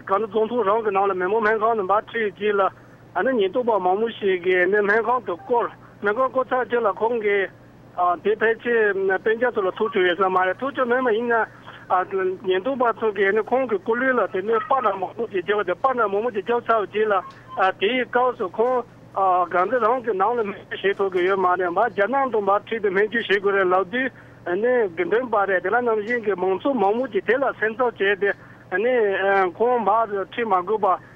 གངས་རི་རྫོང་ཐུང་རང་གི་ནང་ལ་མེ་མོ་སྨན་
ཁང་ནས་འབར་ཁྲིད་རྗེས་ལ། ཨ་ནེ་ཉེན་རྟོག་པ་མང་པོ་ཞིག་གིས་ཨ་ནེ་སྨན་ཁང་དུ་བསྐོར། སྨན་ཁང་བསྐོར་ཚར་རྗེས་ལ་ཁོང་གིས། དེ་ཕལ་ཆེར་དཔེ་ཆ་ཚོ་ལ་ཐུག་བཅུག་ཡོད་ས་མ་རེད། ཐུག་བཅུག་མེད་མ་ཡིན་ན། ཉེན་རྟོག་པ་ཚོ་གིས་ཨ་ནེ་ཁོང་གི་སྐུ་ལུས་ལ་དེ་ནས་སྤར་ནག་མང་པོ་ཞིག་རྒྱབ་སྟེ་སྤར་ནག་མང་པོ་ཞིག་རྒྱབ་ཚར་བ་རྗེས་ལ། དེའི་སྐབས་སུ་ཁོང། གང་ཚེ་རང་གི་ནང་ལ་སྨན་བཅོས་བྱེད་ཐུབ་ཀྱི་ཡོད་མ་རེད། མར་རྒྱ་ནང་དུ་མར་ཁྲིད་དེ་སྨན་བཅོས་བྱེད་དགོས་རེད་ལབ་དུས། ཨ་ནེ་དགེ་འདུན་པ་རེད་དེ་ལ་ནམ་བཞིན་གྱི་མང་ཚོགས་མང་པོ་ཞིག་དེ་ལ་སེམས་འཚབ་བྱས་ཏེ། ཨ་ནེ། ཁོང་མར་ཁྲིད་མ་དགོས་པར་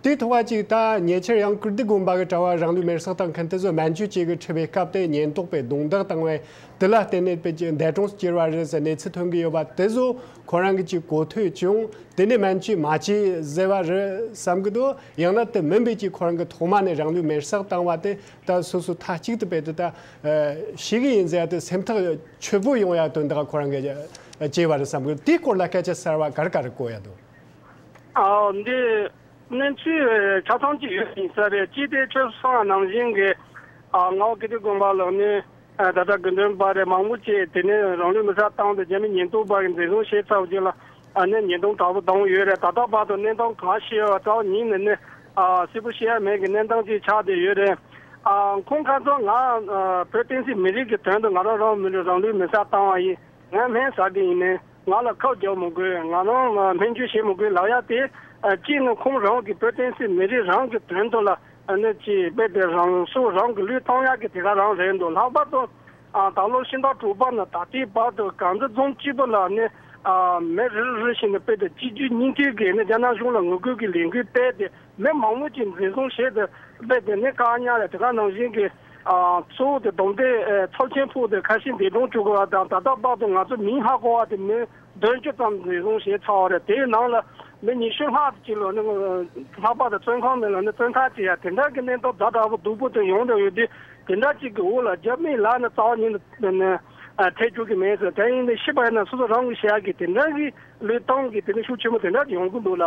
དུས་ཐོག་པ་ཅིག་དང་ཉེ་ཆར་ཡང་ཀིརྟི་དགོན་པ་གི་གྲྭ་བ་རང་ལུས་མེར་སྲེག་དང་ཁན་ཏི་བཟོ་སྨན་བཅོས་བཅས་ཀྱི་འཁྲི་བའི་སྐབས་དེ་ཉེན་རྟོག་པས་རྡུང་རྡེག་བཏང་བས་དེ་ལ་བརྟེན་ནས་དཔེ་ཀྱི་འདས་གྲོངས་སུ་གྱུར་བ་རེད་ཟེར་གནས་ཚུལ་ཐོན་གྱི་ཡོད་པ་དེ་ཚོ་ཁོ་རང་གིས་ཀྱི་གོ་ཐོས་ཀྱང་དེ་ནས་སྨན་བཅོས་མ་བྱས་ཟེར་བ་རེད་བསམ་གྱི་འདུག་ཡང་ན་དེ་མིན་པའི་ཀྱི་ཁོ་རང་གིས་ཐོག་མ་ནས་རང་ལུས་མེར་སྲེག་བཏང་བ་དེ་ད་སོ་སོ་ཐ་གཅིག་ཏུ་བེད་དེ་ད་ཤེས་གི་ཡིན་ཟེར་དེ་སེམས་ཐག་ཆོད་པོ་ཡོང་ཡ་དོན་དག་ཁོ་རང་གིས་བྱས་བ་རེད་བསམ་གྱི་འདུག་དེའི་སྐོར་ལ་སྐད་ཆ་གསར་བ་གར་ག་རེ་གོ་ཡ་འདུག། འདི་གནས་ཚུལ་ཆ་ཚང་གཅིག་ཡོད་མི་གསལ་བས་ཅི་སྟེ་ཆོས་བཟང་ནང་བཞིན་གྱི་ངའོ་ཀིརྟི་དགོན་པ་ལགས་ནི་ད་ལྟ་དགོན་སྟོན་པ་རེ་མང་པོ་བཅས་དེ་ནས་རང་ལུས་
མི་ས་བཏང་སྟེ་རྗེ་མི་ཉིས་སྟོང་བར་གྱི་འཛིན་བཟུང་ཞེས་རྩ་བ་བརྒྱད་ལ་ནས་ཉིས་སྟོང་དྲག་པོ་བཏང་བ་ཡོད་རེད་ད་ལྟ་བར་དུ་གནས་སྟངས་གང་ཤེས་བ་རྩ་བ་ཉིས་ནས་ནས་སིལ་བུ་ཤེས་ཡ་མེད་ཀྱི་གནས་སྟངས་ཅིག་ཆགས་བསྡད་ཡོད་རེད། ཁོང་ཁ་ཚོ་ང་བོད་བསྟན་སྲིད་མི་རིགས་ཀྱི་དོན་དུ་ང་རང་རང་མི་རང་ལུས་མི་ས་བཏང་བ་ཡིན་ངས་སྨན་ཟ་གི་ཡིན། ང་ལ་ཁག་རྒྱག་མི་དགོས་ང་རང་སྨན་བཅོས་བྱེད་མི་དགོས་ལགས་ཡ་དེ། གཅིག་ནི་ཁོང་རང་གིས་བོད་བསྟན་སྲིད་མི་རིགས་རང་གི་དོན་དུ་ལ་གནོད་ཅེས་འབད་པའི་རང་སྲོག་རང་གི་ལུས་གཏང་ཡག་གི་དེ་ག་རང་རེད་འདུག་ལྷག་པར་དུ། ད་ལོ་ཕྱི་ཟླ་དྲུག་པ་ནས་ད་ལྟའི་བར་དུ་གངས་ཏི་རྫོང་སྤྱི་བོ་ལ་ནི། མེ་རི་རུ་རུ་ཞིག་ནས་སྤེལ་ཏེ་སྤྱི་རྒྱུའི་སྙིང་ཐིག་གིས་ནི་རྒྱ་ནག་གཞུང་ལ་ངོ་རྒོལ་གྱི་ལས་འགུལ་སྤེལ་ཏེ་མི་མང་མོ་ཅིག་འཛིན་བཟུང་བྱས་ཏེ་སྤེལ་ཏེ་ནི་བཀག་ཉར་ཡ་དེ་ག་ནང་བཞིན་གྱི། གཙོ་བོ་དེ་སྡོམ་དེ་ཚོགས་ཆེན་ཕུག་དེར་ཁ་ཞེ་འདས་དྲུང་བཅུག་གོ་བ་དང་ད་ལྟ་དཔག་ཏུ་ང་ཚོ་མིང་ཧ་གོ་བ་དེ་མི་བདུན་བཅུ་ཙམ་
རེ་ཟུང་བཞེས་ཚར་བ་རེད་དེའི་ནང་ལ་མི་ཉི་ཤུ་ལྷག་ཅིག་ལ་ནི་ལྷག་པར་དུ་བཙོན་ཁང་མི་ལ་ནི་བཙོན་ཐག་བཅད་ཡ་དེ་འདྲ་གི་གནས་སྟོབས་ད་དྲག་པོ་སྡུག་པོ་དེ་ཡོང་འདོད་ཡོད་དུས་དེ་འདྲ་ཅིག་གི་འུ་ལ་རྒྱབ་མིག་ལ་ནི་རྩ་བ་ཉིད་ནི་ཐེག་རྒྱུག་གི་མེད་ཟེར་དེ་ཡིན་དུས་ཤི་བ་ཡིན་ན་སོ་སོ་རང་གི་ཤ་གི་དེ་འདྲ་གི་ལུས་གཏང་གི་དེ་ནི་ཤུགས་ཆེན་པོ་དེ་འདྲ་ཡོང་གི་འདུག་ལ།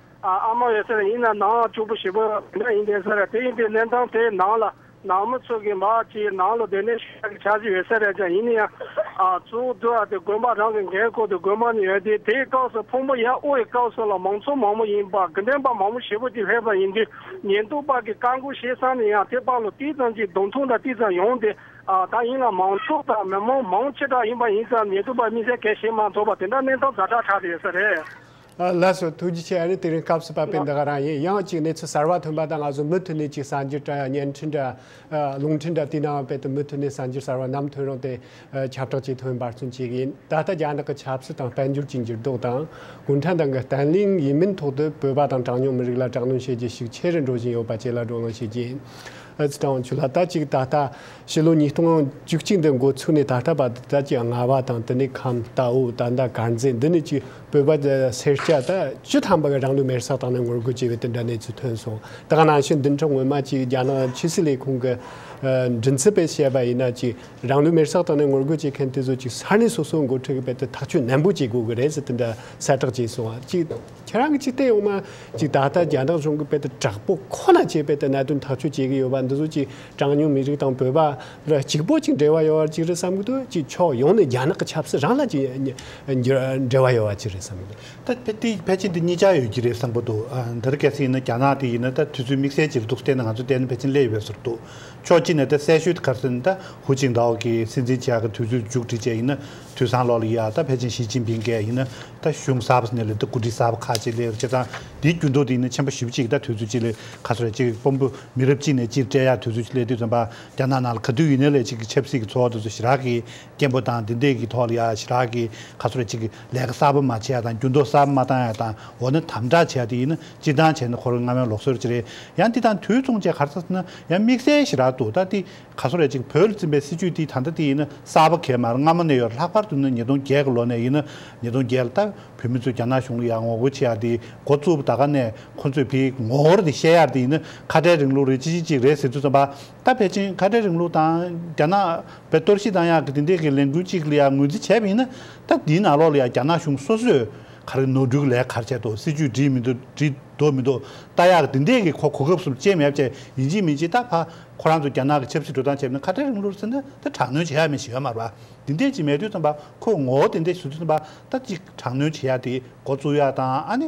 ཨ་མ་ཡོད་ཚད་ཡིན་ན་ནང་བཅུག་པོ་ཞིག་པོ་དེ་འདྲ་ཡིན་དེ་ཟེར་རེད་དེ་ཡིན་དེ་གནས་སྟངས་དེ་ནང་ལ་ནང་མི་ཚོ་གི་མ་ཅི་ནང་ལོ་དེ་ནས་ཤུལ་བཞག་གི་བྱ་གཞི་ཡོད་ས་རེད་ཀྱང་ཡིན་ན་ཡང་ཚུར་བསྡུ་ཡ་དེ་དགོན་པ་རང་གི་འགན་བསྐོར་དུ་དགོན་པ་ནས་ཡོད་དེ་དེའི་སྐབས་སུ་ཕུང་པོ་ཡ་དབུ་ཡི་སྐབས་སུ་ལ་མང་ཚོགས་མང་པོ་ཡིན་པ་དགེ་འདུན་པ་མང་པོ་ཞེ་པོ་ཅིག་སླེབས་པ་ཡིན་དུས་ཉེན་རྟོག་པ་གི་བཀའ་འགུག་བྱེད་སམ་ནས་ཡང་དེ་དཔའ་ལོ་ཏིལ་ཙམ་གྱི་གདོང་ཐུག་འདྲ་ཏིལ་ཙམ་ཡོང་དེ་ད་ཡིན་ལ་མང་ཚོགས་དང་མི་མང་མང་ཆེ་དྲག་ཡིན་པ་ཡིན་ཙམ་ཉེན་རྟོག་པ་དམིགས་བསལ་གལ་བྱེད་མ་ཐོབ་པ་དེ་འདྲ་གནས་སྟངས་ད་དྲག་དྲག་དེ་ཡོད་ས་རེད། ལགས་སོ་ཐུགས་རྗེ་ཆེ་ཨ་རེ་དེ་རིང་སྐབས་སུ་བབས་པའི་འདི་ག་རང་ཡིན་ཡང་ཅིག་གནས་ཚུལ་གསར་བ་ཐོན་པ་དང་ང་ཚོ་མུ་མཐུད་ནས་ཅིག་གསར་འགྱུར་དྲ་བརྙན་འཕྲིན་དྲ་རླུང་འཕྲིན་དྲ་དེའི་ནང་བལ་དུ་མུ་མཐུད་ནས་གསར་འགྱུར་གསར་བ་ནམ་ཐོན་རུང་དེ་ཁྱབ་བསྒྲགས་ཅིག་ཐོན་
འབར་ཚུན་ཅིག་ཡིན་ད་ལྟ་རྒྱ་ནག་གི་ཆབ་སྲིད་དང་དཔལ་འབྱོར་གྱི་འགྱུར་ལྡོག་དང་གུང་ཁྲན་ཏང་གི་བརྟན་བརླིང་ཡིན་མིན་ཐོག་ཏུ་བོད་པ་དང་གྲངས་ཉུང་མི་རིགས་ལ་དྲག་གནོན་བྱེད་རྒྱུ་ཞིག་ཆེ་རུ་འགྲོ་བཞིན་ཡོད་པ་བཅས་ལ་བགྲོ་གླེང་བྱེད་ཀྱིན་ཨི་ཙི་ཀྲང་ཆུ་ལགས་ད་ཅིག་ད་ལྟ་ཕྱི་ལོ་ཉིས་སྟོང་བཅུ་གཅིག་འདི་འགོ་ཚུགས་ནས་ད་ལྟ་བར་དུ་ད་ཅིག་རྔ་བ་དང་དེ་ནས་ཁམས་རྟའུ་ད་ལྟ་དཀར་མཛེས་འདི་ནས་ཅིག་བོད་པ་དེ་སེར་སྐྱ་དག་སྤྱི་ཐམ་པ་གི་རང་ལུས་མེར་སྲེག་བཏང་ནས་ངོ་རྒོལ་བྱས་པའི་དེ་འདྲ་གནས་ཚུལ་ཐོན་སོང་དེ་ག་ནང་བཞིན་བདུན་ཕྲག་སྔོན་མ་གཅིག་རྒྱ་ནག་ཕྱི་སྲིད་ལས་ཁུངས་ཀྱི་མགྲིན་ཚབ་པས་བཤད་པ་ཡིན་ན་གཅིག་རང་ལུས་མེར་སྲེག་བཏང་ནས་ངོ་རྒོལ་བྱེད་མཁན་དེ་ཚོ་གཅིག་ས་གནས་སོ་སོའི་འགོ་ཁྲིད་ཀྱི་པད་དུ་ཐག་གཅོད་ནན་པོ་བྱེད་དགོས་ཀྱི་རེད་ཟེར་དེ་འདྲ་གསལ་བསྒྲགས་བྱས་སོང་བ་གཅིག་ཁྱེད་རང་གི་ཅིག་བལྟས་ཡོང་མ་གཅིག་ད་ལྟ་རྒྱ་ནག་གཞུང་གི་པད་དུ་དྲག་པོ་ཁོ་ན་བྱས་པའི་དེ་གནད་དོན་ཐག་གཅོད་བྱེད་ཀྱི་ཡོད་པ་འདི་ཚོ་གཅིག་གྲངས་ཉུང་མི་རིགས་དང་བོད་པ། ར་གཅིག་པོ་གཅིག་འབྲེལ་བ་ཡོད་བར་གཅིག་རེད་བསམ་གྱི་འདུག་གཅིག་ཕྱོགས་ཡོངས་ནས་རྒྱ་ནག་གི་ཆབ་སྲིད་རང་ལ་གཅིག་འབྲེལ་བ་ཡོད་བར་གཅིག་རེད་བསམ་གྱི་འདུག། ད་ཕལ་ཏི་ཕལ་ཆེན་དེ་གཉིས་ཆ་ཡོད་ཀྱི་རེད་བསམ་གྱི་འདུག་འདི་རུ་གལ་སྲིད་ཡིན་ན་རྒྱ་ནག་དེ་ཡིན་ན་ད་དུས་ཚོད་དམིགས་བསལ་གྱི་རེ་འདུག་བལྟས་ན་ང་ཚོ་བལྟས་ན་ཕལ་ཆེན་སླེ་ཡོད་པའི་ཟུར་འདུག་ཕྱོགས་གཅིག་ནས་ད་གསལ་ཤོས་དེ་གར་སོན་ད་ཧུ་ཅིང་ཏའོ་གིས་སྲིད་འཛིན་
བྱས་གི་དུས་ཚོད་མཇུག་སྒྲིལ་བྱས་ཡིན་ན་དུས་སང་ལོག་ལ་ཡིད་ཨ་ད་ཕལ་ཆེན་ཞི་ཅིན་ཕིང་གས་ཡིན་ན་ད་གཞུང་གསར་པ་སྣེ་ལེན་ད་གོ་སྒྲིག་གསར་པ་ཁག་ཅིག་སླེ་ཡོད་བྱས་ཙང་དེའི་རྒྱུན་ཐོག་དེ་ཡིན་ན་ཆེན་པོ་ཞིབ་གཅིག་ད་དུས་ཚོད་གཅིག་ལས་ག་སོ་རེད་གཅིག་དཔོན་པོ་མི་རབས་གཅིག་ནས་གཅིག་སྤྲད་ཡག་དུས་ཚོད་གཅིག་སླེ་དུས་ཚོད་འབའ། རྒྱ་ནག་ནང་ལ་ག་དུས་ཡིན་ན་ལས་གཅིག་གི་ཆབ་སྲིད་ཀྱི་འཚོ་བ་དེ་ཚོ་ཞི་རག་གི་སྐད་འབོད་དང་དེ་འདྲས་ཀྱི་ཐོག་ལ་ཡ་ཞི་རག་གི་ག་ཚོད་རེ་གཅིག་གི་ལས་ཀ་གསར་པ་མ་བྱས་ཡ་དང་འགྱུར་ལྡོག་གསར་པ་མ་བཏང་ཡ་དང་འོ་ན་དམ་དྲག་བྱས་དེ་ཡིན་ན་སྤྱི་བཏང་བྱས་ན་ཁོ་རང་སྔ་མའི་ལོག་སྲོལ་ཅི་རེད་ཡང་འདི་དང་དུས་མཚུངས་བཅས་གར་ཚ་ན་ཡང་དམིགས་བསལ་ཞི་རག་ཏུ་ད་ལྟའི་ག་ཚོད་རེ་གཅིག་བོད་ལ་བཙིན་པའི་སྲིད་ཇུས་དེ་ད་ལྟ་དེ་ཡིན་ན་གསར་པ་གས་མ་ར་སྔ་མོ་ནས་ཡོད་རེད་ལྷག་པར་དུ་ན་ཉིས་སྟོང་བརྒྱད་གི་ལོ་ནས་ཡིན་ན་ཉིས་སྟོང་བརྒྱད་ལ་ལྟ་བུ་བོད་མི་ཚོས་རྒྱ་ནག་གཞུང་ལ་ཡར་ངོ་རྒོལ་བྱས་ཡ་དེའི་འགོ་བཙུགས་པ་ད་ག་ནས་ཁོ་ཚོས་དེའི་ངོ་བོར་དེ་བཤད་ཡག་དེ་ཡིན་ན་ཁ་བྲལ་རིང་ལུགས་རེད་ཅི་ཞིག་ཅིག་རེད་ཟེར་དུས་བསམ་པ་ད་ཕལ་ཆེན་ཁ་བྲལ་རིང་ལུགས་དང་རྒྱ་ནག་པའི་གཏོར་བཤིག་དང་ཡང་གི་དེ་འདྲས་ཀྱི་ལས་འགུལ་ཅིག་ལ་ཡང་ངོས་འཛིན་བྱས་པ་ཡིན་ན་ད་དེའི་ནང་ལོགས་ལ་ཡང་རྒྱ་ནག་གཞུང་སོ་སོས་ག་རེ་ནོར་འཁྲུལ་གྱི་ལས་ག་རེ་བྱས་འདུག་སྲིད་ཇུས་བསྒྲིགས་མི་འདུག་བསྒྲིགས་འདུག་མི་འདུག་ད་ཡང་གི་དེ་འདྲས་ཀྱི་ཁོ་གོ་སྐབས་སུ་བཅད་མེད་བཅད་ཡིན་ཅི་མིན་ཅི་ད་ཕ་ཁོ་རང་ཚོ་རྒྱ་ནག་གི་ཆབ་སྲིད་འགྲོ་སྟངས་བྱས་པ་ནི་ཁ་བྲལ་རིང་ལུགས་ཟེར་ན་ད་དྲག་གནོན་བྱེད་ཡག་མེད་ཞིག་ཡོད་མ་རེད་པ་དེ་འདྲས་ཅིག་མེད་དུས་བསམ་པ་ཁོས་ངོ་བོ་དེ་འདྲས་ཟེར་དུས་བསམ་པ་ད་ཅིག་དྲག་གནོན་བྱེད་ཡག་དེ་མགོ་བཙུགས་ཡག་དང་ཨ་ནི།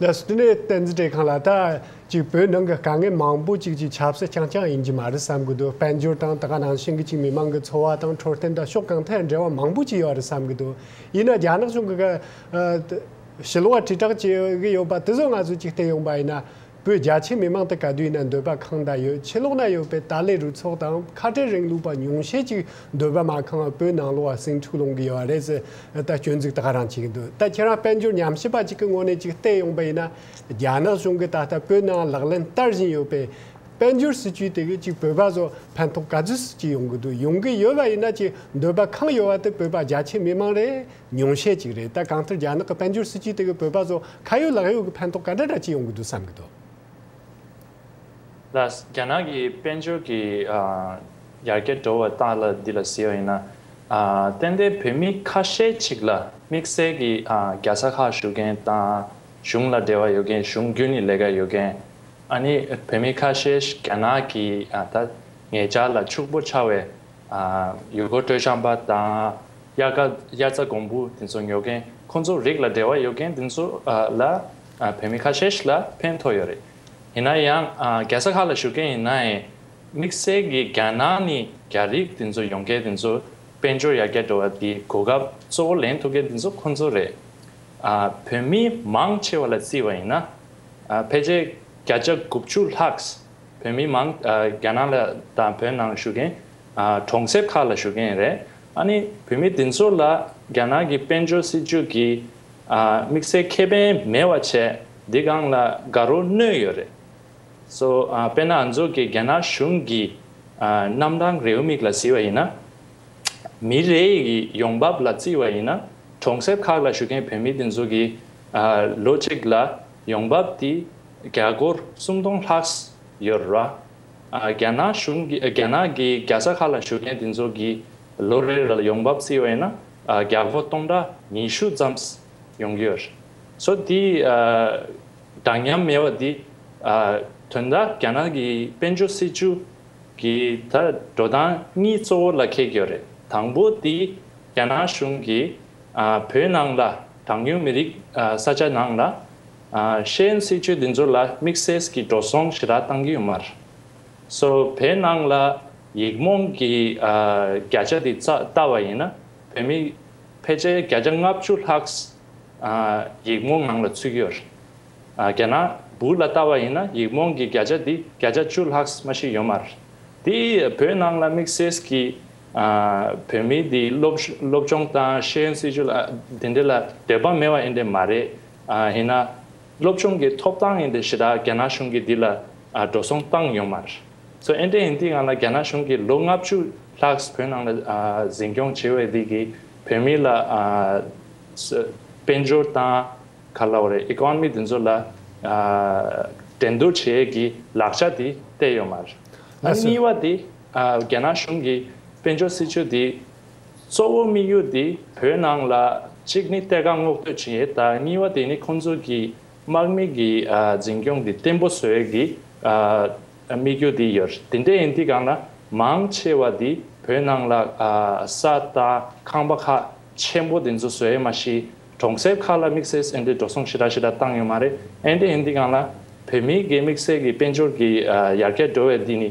ལས་སྣེ་ཏན་རྩིས་སྤྲད་མཁན་ལ་ད་ཅིག་བོད་ནང་གི་དཀའ་ངལ་མང་པོ་ཅིག་ཅིག་ཆབ་སྲིད་རྐྱང་རྐྱང་ཡིན་གྱི་མ་རེད་བསམ་གྱི་འདུག་དཔལ་འབྱོར་དང་ད་ག་ནང་བཞིན་གྱི་ཅིག་མི་མང་གི་འཚོ་བ་དང་འཕྲོད་བསྟེན་དང་ཕྱོགས་གང་ཐད་འབྲེལ་བ་མང་པོ་ཅིག་ཡོད་རེད་བསམ་གྱི་འདུག་ཡིན་ན་རྒྱ་ནག་གཞུང་གི་ག་ཞི་ལུང་བ་དྲིལ་བསྒྲགས་བྱེད་ཀྱི་ཡོད་པ་དེ་ཚོ་ང་ཚོས་ཅིག་བལྟས་ཡོང་པ་ཡིན་ན། བོད་རྒྱ་ཆེ་མི་མང་དུ་ག་དུས་ན་འདོད་པ་གང་འདྲ་ཡོད་ཕྱི་ལོགས་ན་ཡོད་པའི་ཏཱ་ལའི་རུ་ཚོགས་དང་ཁ་བྲལ་རིང་ལུགས་པ་ཉུང་ཤས་ཅིག་འདོད་པ་མ་ཁང་བ་བོད་ནང་ལོགས་བ་སེང་ཕྲུག་ལོང་གི་ཡོད་བ་རེད་ཟེར་ད་སྐྱོན་འཛུགས་ད་ག་རང་བྱེད་ཀྱི་འདུག་ད་ཁྱེད་རང་དཔལ་འབྱོར་ཉམས་ཞིབ་པ་ཅིག་གི་ངོ་ནས་ཅིག་བལྟས་ཡོང་པ་ཡིན་ན་རྒྱ་ནག་གཞུང་གི་ད་ལྟ་བོད་ནང་ལག་ལེན་བསྟར་བཞིན་ཡོད་པའི་དཔལ་འབྱོར་སྲིད་ཇུས་དེ་གི་ཅིག་བོད་པ་ཚོ་ཕན་ཐོག་ག་ཚོད་སུ་ཅིག་ཡོང་གི་འདུག་ཡོང་གི་ཡོད་བ་ཡིན་ན་ཅིག་འདོད་པ་གང་ཡོད་བ་དེ་བོད་པ་རྒྱ་ཆེ་མི་མང་རེད། ཉུང་ཤས་ཅིག་རེད་ད་གང་ལྟར་རྒྱ་ནག་གི་དཔལ་འབྱོར་སྲིད་ཇུས་དེ་གིས་བོད་པ་ཚོ་
ཁ་ཡོད་ལག་ཡོད་ཀྱི་ཕན་ཐོགས་ག་འདྲ་འདྲ་ཅི་ཡོང་གི་འདུག་བསམ་གི་འདུག། ལ། རྒྱ་ནག་གི་དཔལ་འབྱོར་གྱི་ཡར་རྒྱས་འགྲོ་བ་ལྟར་ལ་འདི་ལ་ཟེར་བ་ཡིན་ན། ཏན་ཏན་བོད་མི་ཁ་ཤས་ཅིག་ལ་དམིགས་བསལ་གྱི་རྒྱལ་ས་ཁག་ཞུགས་མཁན་དང་གཞུང་ལ་འབྲེལ་བ་ཡོད་མཁན་གཞུང་རྒྱུན་ནས་ལས་ཀ་ཡོད་མཁན། ཨ་ནི་བོད་མི་ཁ་ཤས་རྒྱ་ནག་གི་ད་ངེད་ཅག་ལ་ཕྱུག་པོ་ཆགས་བའི། ཡུལ་སྐོར་སྤྲོ་འཆམ་པ་དང་དབྱར་རྩྭ་དགུན་འབུ་དེ་ཚོ་ཉོ་མཁན་ཁོ་ཚོ་རིགས་ལ་འབྲེལ་བ་ཡོད་མཁན་དེ་ཚོ་ལ་བོད་མི་ཁ་ཤས་ལ་ཕན་ཐོགས་ཡོད་རེད། ཡིན་ན་ཡང་རྒྱལ་ས་ཁག་ལ་བཞུགས་མཁན་ཡིན་ནའི་དམིགས་བསལ་གྱི་རྒྱ་ནང་ནས་རྒྱ་རིགས་དེ་ཚོ་ཡོང་མཁན་དེ་ཚོ་དཔལ་འབྱོར་ཡར་རྒྱས་འགྲོ་བ་དེའི་གོ་སྐབས་གཙོ་བོ་ལེན་ཐུབ་མཁན་དེ་ཚོ་ཁོ་ཚོ་རེད། བོད་མི་མང་ཆེ་བ་ལ་བརྩིས་བ་ཡིན་ན་ཕལ་ཆེར་བརྒྱ་ཆ་དགུ་བཅུ་ལྷག་བོད་མི་མང་རྒྱ་ནག་ལ་དང་བོད་ནང་བཞུགས་མཁན་གྲོང་གསེབ་ཁག་ལ་བཞུགས་མཁན་རེད་ཨ་ནི་བོད་མི་དེ་ཚོ་ལ་རྒྱ་ནག་གི་དཔལ་འབྱོར་སྲིད་ཇུས་ཀྱི་དམིགས་བསལ་ཁེ་ཕན་མེད་བ་བྱས་འདི་སྒང་ལ་དགའ་རོ་གནོད་ཡོད་རེད་བཟོ་དཔེར་ན་ཨ་ཚོགས་ཀྱི་རྒྱ་ནག་གཞུང་གི་རྣམ་གྲངས་རེའུ་མིག་ལ་བཟི་བ་ཡིན་ན་མི་རེ་ཡི་ཡོང་འབབ་ལ་བརྩི་བ་ཡིན་ན་གྲོང་གསེབ་ཁག་ལ་བཞུགས་མཁན་བོད་མི་དེ་ཚོ་གི་ལོ་གཅིག་ལ་ཡོང་འབབ་དེ། རྒྱ་སྒོར་སུམ་སྟོང་ལྷག་ཡོད་ར། རྒྱ་ནག་གཞུང་གིས་རྒྱ་ནག་གི་རྒྱལ་ས་ཁག་ལ་བཞུགས་མཁན་དེ་ཚོ་གིས་ལོ་རེར་ཡོང་འབབ་བརྩི་བས་ན་རྒྱ་སྒོར་སྟོང་ཕྲག་ཉི་ཤུ་ཙམ་ཡོང་གི་ཡོད། ཚོ་དེའི་འདྲ་མཉམ་མེད་པ་འདི་དོན་དག་རྒྱ་ནག་གི་དཔལ་འབྱོར་སྲིད་ཇུས་ཀྱི་ད་འགྲོ་སྟངས་གཉིས་གཙོ་བོ་ལ་འཁེལ་གི་ཡོད་རེད། དང་པོ་དེ་རྒྱ་ནག་གཞུང་གིས་བོད་ནང་ལ་གྲངས་ཉུང་མི་རིགས་ས་ཆ་ནང་ལ་ཤེས་ཡོན་སྲིད་བྱུས་འདི་ཚོ་ལ་དམིགས་བསལ་གྱི་འགྲོ་སོང་ཞི་རགས་བཏང་གི་ཡོད་མ་རེདབོད་ནང་ལ་ཡིག་རྨོངས་ཀྱི་བརྒྱ་ཆ་འདི་བལྟ་བ་ཡིན་ན་བོད་མི་ཕལ་ཆེར་བརྒྱ་ཆ་ལྔ་བཅུ་ལྷག་ཡིག་རྨོངས་ངང་ལ་ཚུད་ཀྱི་ཡོད་རེདརྒྱ་ནག་པོ་ལ་བལྟ་བ་ཡིན་ན་ཡིག་རྨོངས་ཀྱི་བརྒྱ་ཆ་འདི་བརྒྱ་ཆ་བཅུ་ལྷག་མ་ཞིག་ཡོད་མ་རེདའདི་བོད་ནང་ལ་དམིགས་བསལ་གྱི་བོད་མི་འདི་སློབ་སྦྱོང་དང་ཤེས་ཡོན་སྲིད་བྱུས་འདི་འདྲ་ལ་འདོད་པ་མེད་བ་ཡིན་འདྲ་མ་རེད། ཡིན་ན། སློབ་ཆུང་གི་ཐོབ་ཐང་ཡིན་པའི་གཞི་བདག་རྒྱ་ནག་གཞུང་གིས་འདི་ལ་འགྲོ་སོང་བཏང་ཡོད་མ་རེད། སོ་ཨེ་འདྲས་ཡིན་དུས་ང་ལ་རྒྱ་ནག་གཞུང་གིས་ལོ་ལྔ་བཅུ་ལྷག་བོད་ནང་ལ་འཛིན་སྐྱོང་བྱས་བའི་ལུགས་ཀྱིས་བོད་མི་ལ། དཔལ་འབྱོར་དང། ག་ལ་བ་རེད Economy འདི་ཚོ་ལ། འགྲན་བསྡུར་བྱེད་ཀྱི་ལག་ཆ་དེ་གཏད་ཡོད་མ་རེད། གཉིས་བ་དེ། རྒྱ་ནག་གཞུང་གིས་དཔལ་འབྱོར་སྲིད་ཇུས་འདི། གཙོ་བོ་དམིགས་ཡུལ་འདི་བོད་ནང་ལ་གཅིག་ནི་གཏེར་ཁ་སྔོག་འདོད་བྱེད་ད་གཉིས་བ་དེ་ནི་ཁོང་ཚོ་གི་དམག་མི་གི་འཛིན་སྐྱོང་འདི་བརྟན་པོ་བཟོས་གི་དམིགས་ཡུལ་འདི་ཡོད་དེ་འདྲ་ཡིན་དུས་གང་ན་མང་ཆེ་བ་འདི་བོད་ནང་ལ་ས་དང་ཁང་པ་ཁག་ཆེན་པོ་འདི་ཚོ་བཟོས་མ་ཤི་གྲོང་གསེབ་ཁག་ལ་དམིགས་བསལ་ཨེ་འདྲའི་འགྲོ་སོང་ཞི་དྲག་ཞི་དྲག་བཏང་ཡོད་མ་རེད་ཨེ་འདྲ་ཡིན་དུས་གང་ན་བོད་མི་གི་དམིགས་བསལ་གི་དཔལ་འབྱོར་གི་ཡར་རྒྱས་འགྲོ་བའི་འདི་ནི་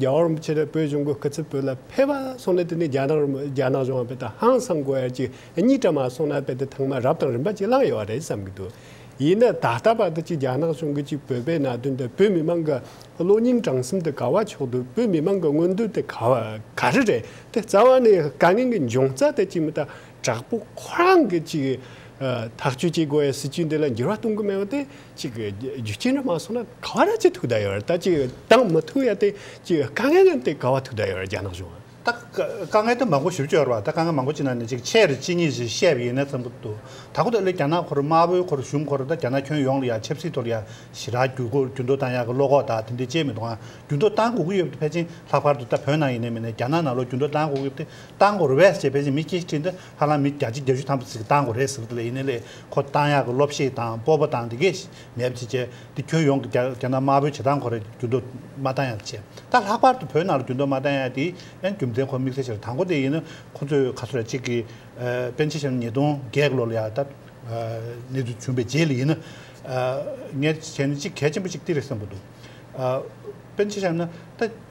རྒྱ་གར་བའམ་ཕྱི་རྒྱལ་བོད་གཞུང་གི་སྐུ་ཚབ་བོད་ལ་ཕེབས་པ་སོང་ནས་དེ་ནས་རྒྱ་ནག་རྒྱ་ནག་གཞུང་བོད་དང་ཧང་སང་གོ་ཡ་གཅིག་གཉིས་གྲ་མ་སོང་ན་བོད་དེ་ཐང་མ་རབ་དང་རིམ་པ་གཅིག་བླངས་ཡོད་པ་རེད་བསམ་གི་འདུག་ཡིན་ན་ད་ལྟ་བར་དུ་གཅིག་རྒྱ་ནག་གཞུང་གི་གཅིག་བོད་པའི་ན་དོན་དེ་བོད་མི་མང་གི་གློ་སྙིང་བྲང་གསུམ་དེ་ག་བ་ཕྱོགས་འདུག་བོད་མི་མང་གི་མངོན་འདོད་དེ་ག་བ་ག་རེ་རེད་དེ་རྩ་བ་ནས་དཀའ་ངལ་གི་འབྱུང་རྩ་དེ་གཅིག་མི་ཏག་དྲག་པོ་ཁོ་རང་གི་གཅིག་ཐག་གཅོད་བྱེད་དགོས་ཡ་སྲིད་བྱུས་འདི་ལ་འགྱུར་བ་གཏོང་གི་མེད་པ་དེ། གཅིག་གི་རྒྱུ་རྐྱེན་ར་མ་སོང་ན་ག་བ་ར་ཅི་ཐུག་ད་ཡོད་ར་ད་ཅིག་དང་མི་ཐུག་ཡ་དེ་ཅིག་དཀའ་ངལ་ཡང་དེ་ག་བ་ཐུག་ད་ཡོད་ར་རྒྱ་ནག་གཞུང་ཨ། ད་དཀའ་ངལ་
དུ་མ་གོ་ཞིབ་ཅོ་ཡོར་བ་ད་དཀའ་ངལ་མ་གོ་ཅི་ན་ནི་ཅིག་ཆེ་ར་ཅི་ཉིད་ཞིག་བཤད་བ་ཡིན་ན་ཚང་པོ་འདུག་ད་གོ་ད་ལོའི་རྒྱ་ནག་འཁོར་དམར་བོའི་འཁོར་གཞུང་འཁོར་ད་རྒྱ་ནག་ཁྱོན་ཡོངས་ལ་ཡ་ཆབ་སྲིད་ཐོར་ཡ་ཞི་ར་རྒྱུ་གོ་རྒྱུ་འདོ་དང་ཡ་གི་བློ་ཁོག་ད་དེ་འདི་བྱེད་མི་འདུག་ཨ་རྒྱུ་འདོ་དང་གོ་གི་ཡོད་དེ་ཕལ་ཆེན་ལྷག་པར་དུ་ད་བོད་ནང་ཡིན་ནས་མིན་ནས་རྒྱ་ནག་ནང་ལོ་རྒྱུ་འདོ་དང་གོ་གི་ཡོད་དེ་དང་གོ་ར་བས་ཅེས་ཕལ་ཆེན་མི་སྐྱེ་ཤི་ཁྲིད་འདི་ཧ་ལམ་མི་བརྒྱ་ཆི་བརྒྱ་ཤུ་ཐམ་པོ་ཚིག་གི་དང་གོ་རེད་ཟེར་བ་དེ་ལས་ཡིན་ནས་ལས་ཁོ་ཏང་ཡག་གི་སློབ་ཤེས་དང་སྤོབས་པ་དང་དེ་གས་མེད་པ་བྱེད་ཆེད་དེ་ཁྱོན་ཡོངས་ཀྱི་རྒྱ་ནག་དམར་པོའི་བྱེ་ཐང་ཁོ་རེ་རྒྱུན་སྡོད་མ་ཏང་ཡག་བྱེད་ད་ལྷག་པར་དུ་བོད་ནང་རྒྱུན་སྡོད་མ་ཏང་ཡག་དེ་ཨན་རྒྱུ་མཚན་ཁོ་དམིགས་བསལ་ཆེར་དང་པོ་དེ་ཡིན་ན་ཁོ་ཚོས་ག་ཚོད་ལ་གཅིག་གི་པན་ཆེ་ཞིང་ཉིས་སྟོང་བརྒྱད་གི་ལོ་ལ་ཡག་ད་ནས་དུས་བྱུང་པའི་རྗེས་ལ་ཡིན་ན་ངས་བྱས་ནས་གཅིག་གལ་ཆེན་པོ་གཅིག་ཏི་རེ་བསམ་པོ་འདུག་པན་ཆེ་ཞང་ན་ད།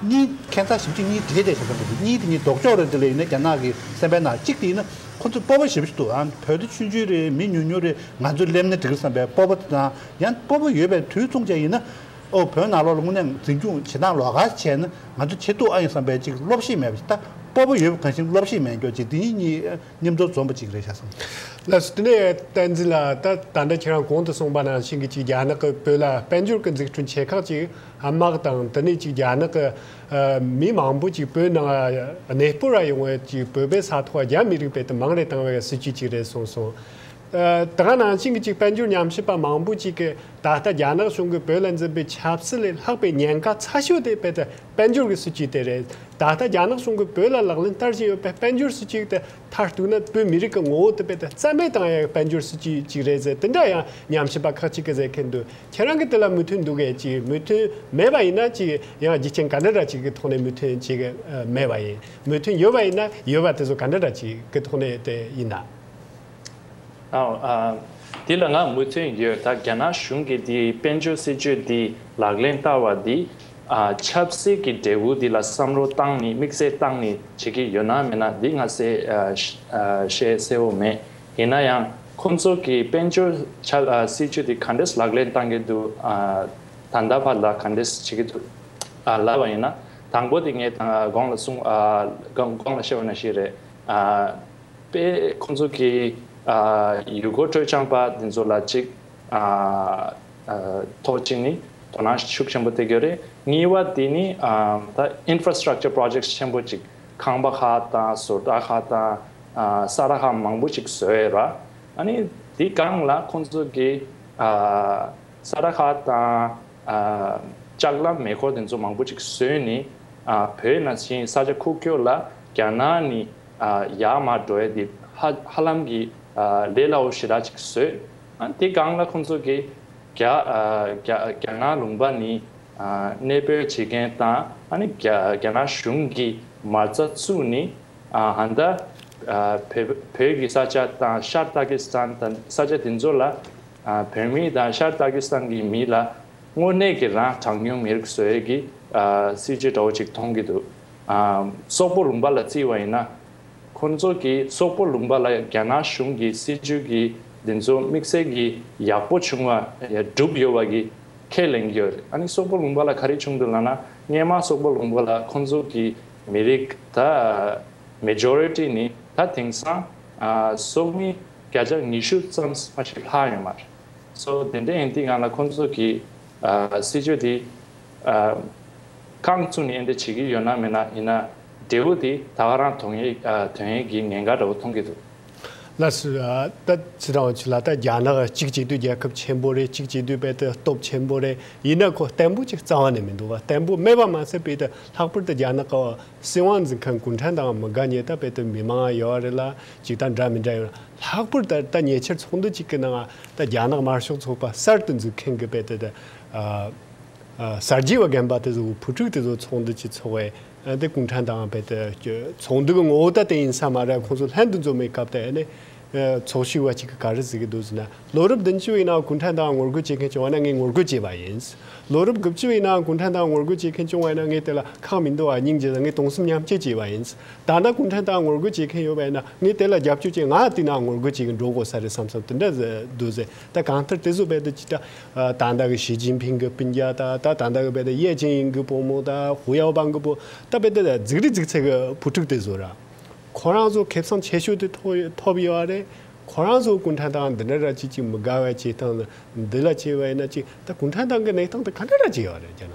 གཉིས། ཁྱད་མཚར་ཞིབ་ཅིག་གཉིས་དེ་དེ་བཞིན་ཟེར་ན་འགྲིག་གཉིས་དེ་གཉིས་ལྡོག་ཕྱོགས་རེད་འདི་ལས་ཡིན་ན་རྒྱ་ནག་གི་སེམས་པའི་ནང་གཅིག་དེ་ཡིན་ན་ཁོ་ཚོས་སྤོབས་པ་ཞིབ་ཅིག་འདུག་ཨང་བོད་དེ་ཆུང་ཆུང་རེད་མི་ཉུང་ཉུང་རེད་ང་ཚོས་སླེབས་ན་འགྲིག་རེད་བསམ་པའི་སྤོབས་པ་དེ་དང་ཡང་སྤོབས་པ་ཡོད་པའི་དུས་མཚུངས་ཅན་ཡིན་ན། ཨོ་བོད་ནང་ལོག་ལ་དངོས་གནས་འཛིན་སྐྱོང་བྱེད་སྟངས་ལོག་ཁ་བྱས་ན་ང་ཚོ་བྱེད་ཐུབ་ཨང་ཡིན་བསམ་པའི་ཅིག་བློ་བཤེས་མེད་པ་ཞིག་ད་སྤོབས་པ་ཡོད་པ་གང་ཞིག་བློ་བཤེས་མེད་མགྱོགས་ཅིག་འདི་གཉིས་གཉིས་མཉམ་འཛོམས་འཛོམས་པ་ཅིག་རེད་བྱ་སོང། ལགས་སོ་དེ་ནས་
བསྟན་འཛིན་ལགས་ད་ད་ལྟ་ཁྱེད་རང་གོང་དུ་གསུངས་པ་ནང་བཞིན་གྱི་ཅིག་རྒྱ་ནག་གིས་བོད་ལ་དཔལ་འབྱོར་གྱི་འཛུགས་སྐྲུན་ཆེ་ཁག་ཅིག་དམག་དང་དེ་ནས་ཅིག་རྒྱ་ནག་གི་མི་མང་པོ་ཅིག་བོད་ནང་གནས་སྤོ་ར་ཡོང་བའི་ཅིག་བོད་པའི་ས་ཐོག་རྒྱ་མི་རིགས་པའི་དུ་མང་རེ་བཏང་བའི་སྲིད་བྱུས་ཅིག་རེད་གསུངས་སོང། དེ་ག་ནང་བཞིན་གྱི་ཅིག་དཔལ་འབྱོར་ཉམས་ཞིབ་པ་མང་པོ་ཅིག་གིས་ད་ལྟ་རྒྱ་ནག་གཞུང་གིས་བོད་ལ་འཛིན་པའི་ཆབ་སྲིད་ལས་ལྷག་པའི་ཉེན་ཁ་ཚ་ཤོས་དེ་དཔལ་འབྱོར་གྱི་སྲིད་བྱུས་དེ་རེད། ད་ལྟ་རྒྱ་ནག་གཞུང་གིས་བོད་ལ་ལག་ལེན་བསྟར་བཞིན་ཡོད་པའི་དཔལ་འབྱོར་སྲིད་བྱུས་དེ་མཐར་གཏུགས་ན་བོད་མི་རིགས་ཀྱི་ངོ་བོ་དེ་དཔེ་དང་རྩལ་མེད་དང་ཡང་དཔལ་འབྱོར་སྲིད་ཇུས་གཅིག་རེད་ཟེར་དེ་འདྲ་ཡང་ཉམས་ཞིབ་པ་ཁག་ཅིག་གིས་ཟེར་མཁན་འདུག་ཁྱེད་རང་གིས་དེ་ལ་མོས་མཐུན་འདུག་གས་ཅིག་མོས་མཐུན་མེད་པ་ཡིན་ན་ཅིག་ཡང་རྒྱུ་རྐྱེན་ག་འདྲ་འདྲ་ཅིག་གི་ཐོག་ནས་མོས་མཐུན་བྱེད་ཀྱི་མེད་པ་ཡིན་མོས་མཐུན་ཡོད་པ་ཡིན་ན་ཡོད་པ་དེ་ཚོ་ག་འདྲ་འདྲ་ཅིག་གི་ཐོག་ནས་དེ་ཡིན་ན། ཨོ་ཨ།
དེ་ལ་ང་མོས་མཐུན་ཡོད་ད་རྒྱ་ནག་གཞུང་གིས་དེའི་དཔལ་འབྱོར་སྲིད་ཇུས་འདི་ལག་ལེན་བསྟར་བ་འདིས་ཆབ་སྲིད་ཀྱི་འབྲས་བུ་འདི་ལ་བསམ་བློ་བཏང་ནས་དམིགས་བསལ་བཏང་ནས་བྱེད་ཀྱི་ཡོད་ན་མེད་ན་འདི་ང་བཤད་གསལ་བོ་མེད། ཡིན་ན་ཡང་ཁོང་ཚོ་གིས་དཔལ་འབྱོར་ཆབ་སྲིད་ཅུས་འདི་ག་འདྲས་ལག་ལེན་བཏང་གི་འདུག་ད་ལྟ་བར་ལ་ག་འདྲས་བྱེད་ཀྱི་འདུག་ལབ་པ་ཡིན་ན་དང་པོ་དེ་ངས་དགོངས་ལ་བཤད་བ་ན་ཞིག་རེད་དཔེ། ཁོང་ཚོ་གིས་ཡུལ་སྐོར་སྤྲོ་སྦྱངས་པ་འདི་ཚོ་ལ་ཅིག། ཐོག་གཅིག་ནི་དོ་སྣང་ཤུགས་ཆེན་པོ་སྟེར་རྒྱུ་རེད། གཉིས་པ་དེ་ནི་ད Infrastructure Projects ཆེན་པོ་གཅིག་ཁང་པ་ཁག་དང་ཟུར་བཀྲ་ཁག་དང་ས་ར་ཁག་མང་པོ་ཞིག་བཟོས་ཡོད་ར། ཨཱ་དེ་སྒང་ལ་ཁོང་ཚོ་གི་ས་ར་ཁག་དང་ལྕགས་ལམ་མེ་འཁོར་དེ་ཚོ་མང་པོ་ཅིག་བཟོས་ནས་བོད་ནང་བཞིན་ས་ཆ་ཁུག་ཁྱོད་ལ་རྒྱ་ནག་ནས་ཡར་མར་འགྲོ་ཡ་དེ་ཧ་ཧ་ལམ་གི་ལས་སླ་བོ་ཞེ་དྲག་ཅིག་བཟོས། དེའི་སྒང་ལ་ཁོང་ཚོ་གིས་རྒྱ་ནག་ལུང་པ་ནི་གནས་སྤོས་བྱེད་མཁན་དང་རྒྱ་ནག་གཞུང་གི་མ་རྩ་བཙུགས་ནས་ཧན་ད་བོད་ཀྱི་ས་ཆ་དང་ཤར་ཏཱ་ཀི་སི་ཐན་དང་ས་ཆ་དེ་ཚོ་ལ་བོད་མི་དང་ཤར་ཏཱ་ཀི་སི་ཐན་གྱི་མི་ལ་དངོས་གནས་ཀྱི་རང་གྲངས་ཉུང་མི་རིགས་བཟོས་ཀྱི་སྲིད་ཇུས་འདྲ་བོ་ཅིག་མཐོང་གི་འདུག་སོག་པོ་ལུང་པ་ལ་བརྩི་བ་ཡིན་ན། ཁོ་ཚོ་གིས་སོག་པོ་ལུང་པ་ལ་རྒྱ་ནག་གཞུང་གི་སྲིད་ཇུས་ཀྱིས་འདི་ཚོ་དམིགས་བསལ་གྱིས་ཡག་པོ་བྱུང་བ་བསྒྲུབས་ཡོད་པ་གྱི་ཁས་ལེན་གྱི་ཡོད་རེད་ཨ་ནི་སོག་པོ་ལུང་པ་ལ་ག་རེ་བྱུང་འདུག་ལགས་ན་སྔས་མ་སོག་པོ་ལུང་པ་ལ་ཁོ་ཚོ་གི་མི་རིགས་ད Majority ནི་ད་དེང་སང་སོག་མི་བརྒྱ་ཆ་ཉི་ཤུ་ཙམ་མ་ཞིག་ལྷག་ཡོད་མ་རེད་སོ་དེ་འདྲ་ཡིན་དུས་ང་ལ་ཁོ་ཚོ་གི་སྲིད་ཇུས་དེ་རྐང་བཙུགས་ནས་འདྲ་བྱེད་ཀྱི་ཡོད་ན་མེད་ན་ཡིན་ན། འབྲས་བུ་དེ་ད་ག་རང་དོན་ཡིན་གྱི་ངན་ག་འདྲ་བོ་མཐོང་
གི་འདུག། ལ་སྟ་ཚི་རང་ཆུ་ལ་སྟ་རྒྱ་ནག་གཅིག་གཅིག་དུས་རྒྱལ་ཁབ་ཆེན་པོ་རེད་གཅིག་གཅིག་དུས་དཔལ་ཏི་སྟོབས་ཆེན་པོ་རེད་ཡིན་ན་ཁོ་བརྟན་པོ་གཅིག་རྩ་བ་ནས་མི་འདུག་བ་བརྟན་པོ་མེད་པ་མ་ཟད་དཔལ་ཏི་ལྷག་པར་དུ་རྒྱ་ནག་གི་སྲིད་དབང་འཛིན་མཁན་གུང་ཁྲན་ཏང་མི་དགའ་ཉེ་ད་དཔལ་ཏི་མི་མང་ཡོད་བ་རེད་ལ་གཅིག་དང་འདྲ་མི་འདྲ་ཡོད་ལྷག་པར་ད་ལྟ་ཉེ་ཆར་ཚོགས་འདུ་གཅིག་གི་ནང་ད་རྒྱ་ནག་དམར་ཤོག་ཚོགས་པ་གསར་དུ་འཛུགས་མཁན་གི་དཔལ་ཏི་ཏི་གསར་བརྗེ་བ་རྒན་པ་དེ་ཚོ་བུ་ཕྲུག་དེ་ཚོ་ཚོགས་འདུ་གཅིག་ཚོགས་བའི་འདི་གུང་ཁྲན་ཏང་རྦད་དེ་ཚོགས་འདུ་གི་ངོ་བོ་ད་དེ་ཡིན་ས་མ་རེད་ཁོང་ཚོ་ལྷན་དུ་འཛོམས་པའི་སྐབས་དེ་ནས་ཚོགས་ཞུགས་བ་གཅིག་གི་ག་རེ་ཟེར་གི་འདུག་ཟེར་ན་ལོ་རབས་བདུན་ཅུ་བའི་ནང་གུང་ཁྲན་ཏང་ངོ་རྒོལ་བྱེད་མཁན་བྱུང་བ་ན་ངས་ངོ་རྒོལ་བྱས་པ་ཡིན། ལོ་རབས་དགུ་བཅུ་བའི་ནང་གུང་ཁྲན་ཏང་ངོ་རྒོལ་བྱེད་མཁན་བྱུང་བ་ན་ངས་དེ་ལ་ཁག་མི་འདུག་ཨ་སྙིང་རྗེ་དང་ངས་སྟོང་གསུམ་མཉམ་སྐྱེད་བྱས་པ་ཡིན། ད་ལྟ་གུང་ཁྲན་ཏང་ངོ་རྒོལ་བྱེད་མཁན་ཡོད་པ་ཡིན་ན་ངས་དེ་ལ་རྒྱབ་སྐྱོར་བྱེད་ང་ཨ་ཏི་ནའང་ངོ་རྒོལ་བྱེད་ཀྱི་འགྲོ་དགོས་ས་རེད་བསམ་བསམ་དེ་འདྲ་ཟེར་འདུག་ཟེར་ད་གང་ལྟར་དེ་ཚོ་རྦད་དེ་ཅི་ལྟ་ད་ལྟ་གི་ཞི་ཅིན་ཕིང་གི་སྤུན་རྒྱ་དང་ད་ད་ལྟ་གི་བལ་ཏི་ཡེ་ཅིན་ཡིན་གི་བུ་མོ་དང་ཧུའུ་ཡའོ་པང་གི་བུ་ད་བལ་ཏི་ལ་རྫིག་རི་རྫིག་ཚད་གི་བུ་ཕྲུག་དེ་ཚོ་རང་ཁོ་རང་ཚོ་ཁེབས་སམ་ཆེ་ཤོས་དེ་ཐོབ་ཡོད་བ་རེད་ཁོ་རང་ཚོ་གུང་ཁྲན་ཏང་འདི་འདྲ་ར་ཅིག་ཅིག་མི་དགའ་བའི་བྱེད་སྟངས་འདི་ལ་བྱེད་པ་ཡིན་ན་ཅིག་ད་གུང་ཁྲན་ཏང་གི་གནས་སྟངས་དེ་ག་འདྲ་ར་ཅིག་ཡོད་རེད་ཀྱེ་ན།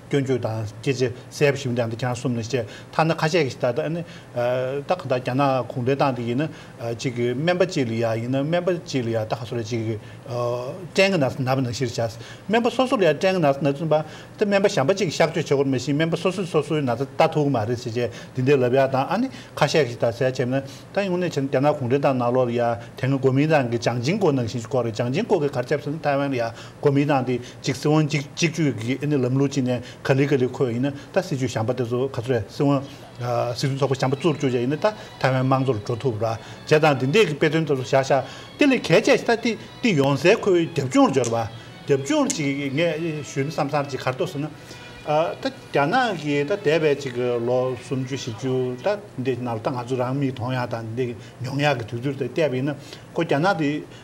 སྐྱོན་བརྗོད་དང་སྐྱེད་ཚལ་གསལ་པོ་ཞིབ་འདི་འདི་གྱང་གསུམ་ནས་བཤད་ཐ་ན་ཁ་ཤས་ཀྱི་ད་ད་ནི་ད་གང་ལྟར་རྒྱ་ནག་གུང་བྲན་ཏང་དེ་ཡིན་ན་གཅིག་གི་སྨན་པ་གཅིག་ལ་ཡ་ཡིན་ན་སྨན་པ་གཅིག་ལ་ཡ་ད་ག་སོ་ར་གཅིག་གི་སྐྲན་གྱི་ན་ཟ་ན་བ་ན་ཤི་ར་བྱ་སྨན་པ་སོ་སོ་ལ་ཡ་སྐྲན་གྱི་ན་ཟ་ན་ཟུན་པ་དེ་སྨན་པ་གཞན་པ་གཅིག་གི་གཤགས་བཅོས་བྱེད་དགོས་མ་ཤིས་སྨན་པ་སོ་སོས་སོ་སོའི་ན་ཟ་ལྟ་ཐུག་གི་མ་རེད་ཟེར་བྱས་འདི་འདི་ལབ་ཡ་དང་ཨ་ནི་ཁ་ཤས་ཀྱི་ད་གསལ་བྱས་མ་ན་ད་ཡུང་ནས་བྱས་ན་རྒྱ་ནག་གུང་བྲན་ཏང་ནག་ལོ་ལ་ཡ་དེ་སྔ་གོ་མིན་ཏང་གི་བྱང་ཆིང་ཀོ་ནང་བཞིན་བསྐོར་རེད་བྱང་ཆིང་ཀོ་གི་གར་ཁྱབ་ཟེར་ན་ཐའེ་ཝན་ལ་ཡ་གོ་མིན་ཏང་དེ། གཅིག་སྲིད་དབང་གཅིག་གཅིག་གཅོད་ཀྱི་ཨེ་ནི་ལམ་ལུགས་སྤྱི་ནས་ག་ལི་ག་ལི་ཁོ་ཡིན་ན་ད་སྲིད་ཇུས་བྱམས་པ་དེ་ཚོ་ག་ཚོད་སྲིད་དབང་སྲིད་དོན་ཚོགས་པ་བྱམས་པ་གཙོར་བསྐྱོད་བྱས་ཡིན་ན་ད་ཐའེ་ཝན་དམངས་གཙོར་འགྲོ་ཐུབ་ར་བྱས་དང་དེ་འདས་ཀྱི་དཔེ་སྟོན་དེ་ཚོ་བཞག་བཞག་དེ་ལས་གལ་ཆེ་ད་ཏི་ཏི་ཡོང་ཟེར་ཁོའི་རྒྱབ་ལྗོངས་འབྱོར་བ་རྒྱབ་ལྗོངས་ཅིག་ངས་ཞུས་ན་བསམ་བསམ་ཅིག་གར་ལྟོས་ཟེར་ན་ད་རྒྱ་ནག་གི་ད་འདས་པའི་ཅིག་ལོ་སུམ་ཅུ་བཞི་ཅུ་ད་འདས་ཀྱི་ནང་ལ་ད་ང་ཚོ་རང་མིག་མཐོང་ཡག་དང་འདས་ཀྱི་མྱོང་ཡག་གི་དུས་ཚོད་དེ་བལྟས་པ་ཡིན་ན་ཁོ་རྒྱ་ནག་དེ།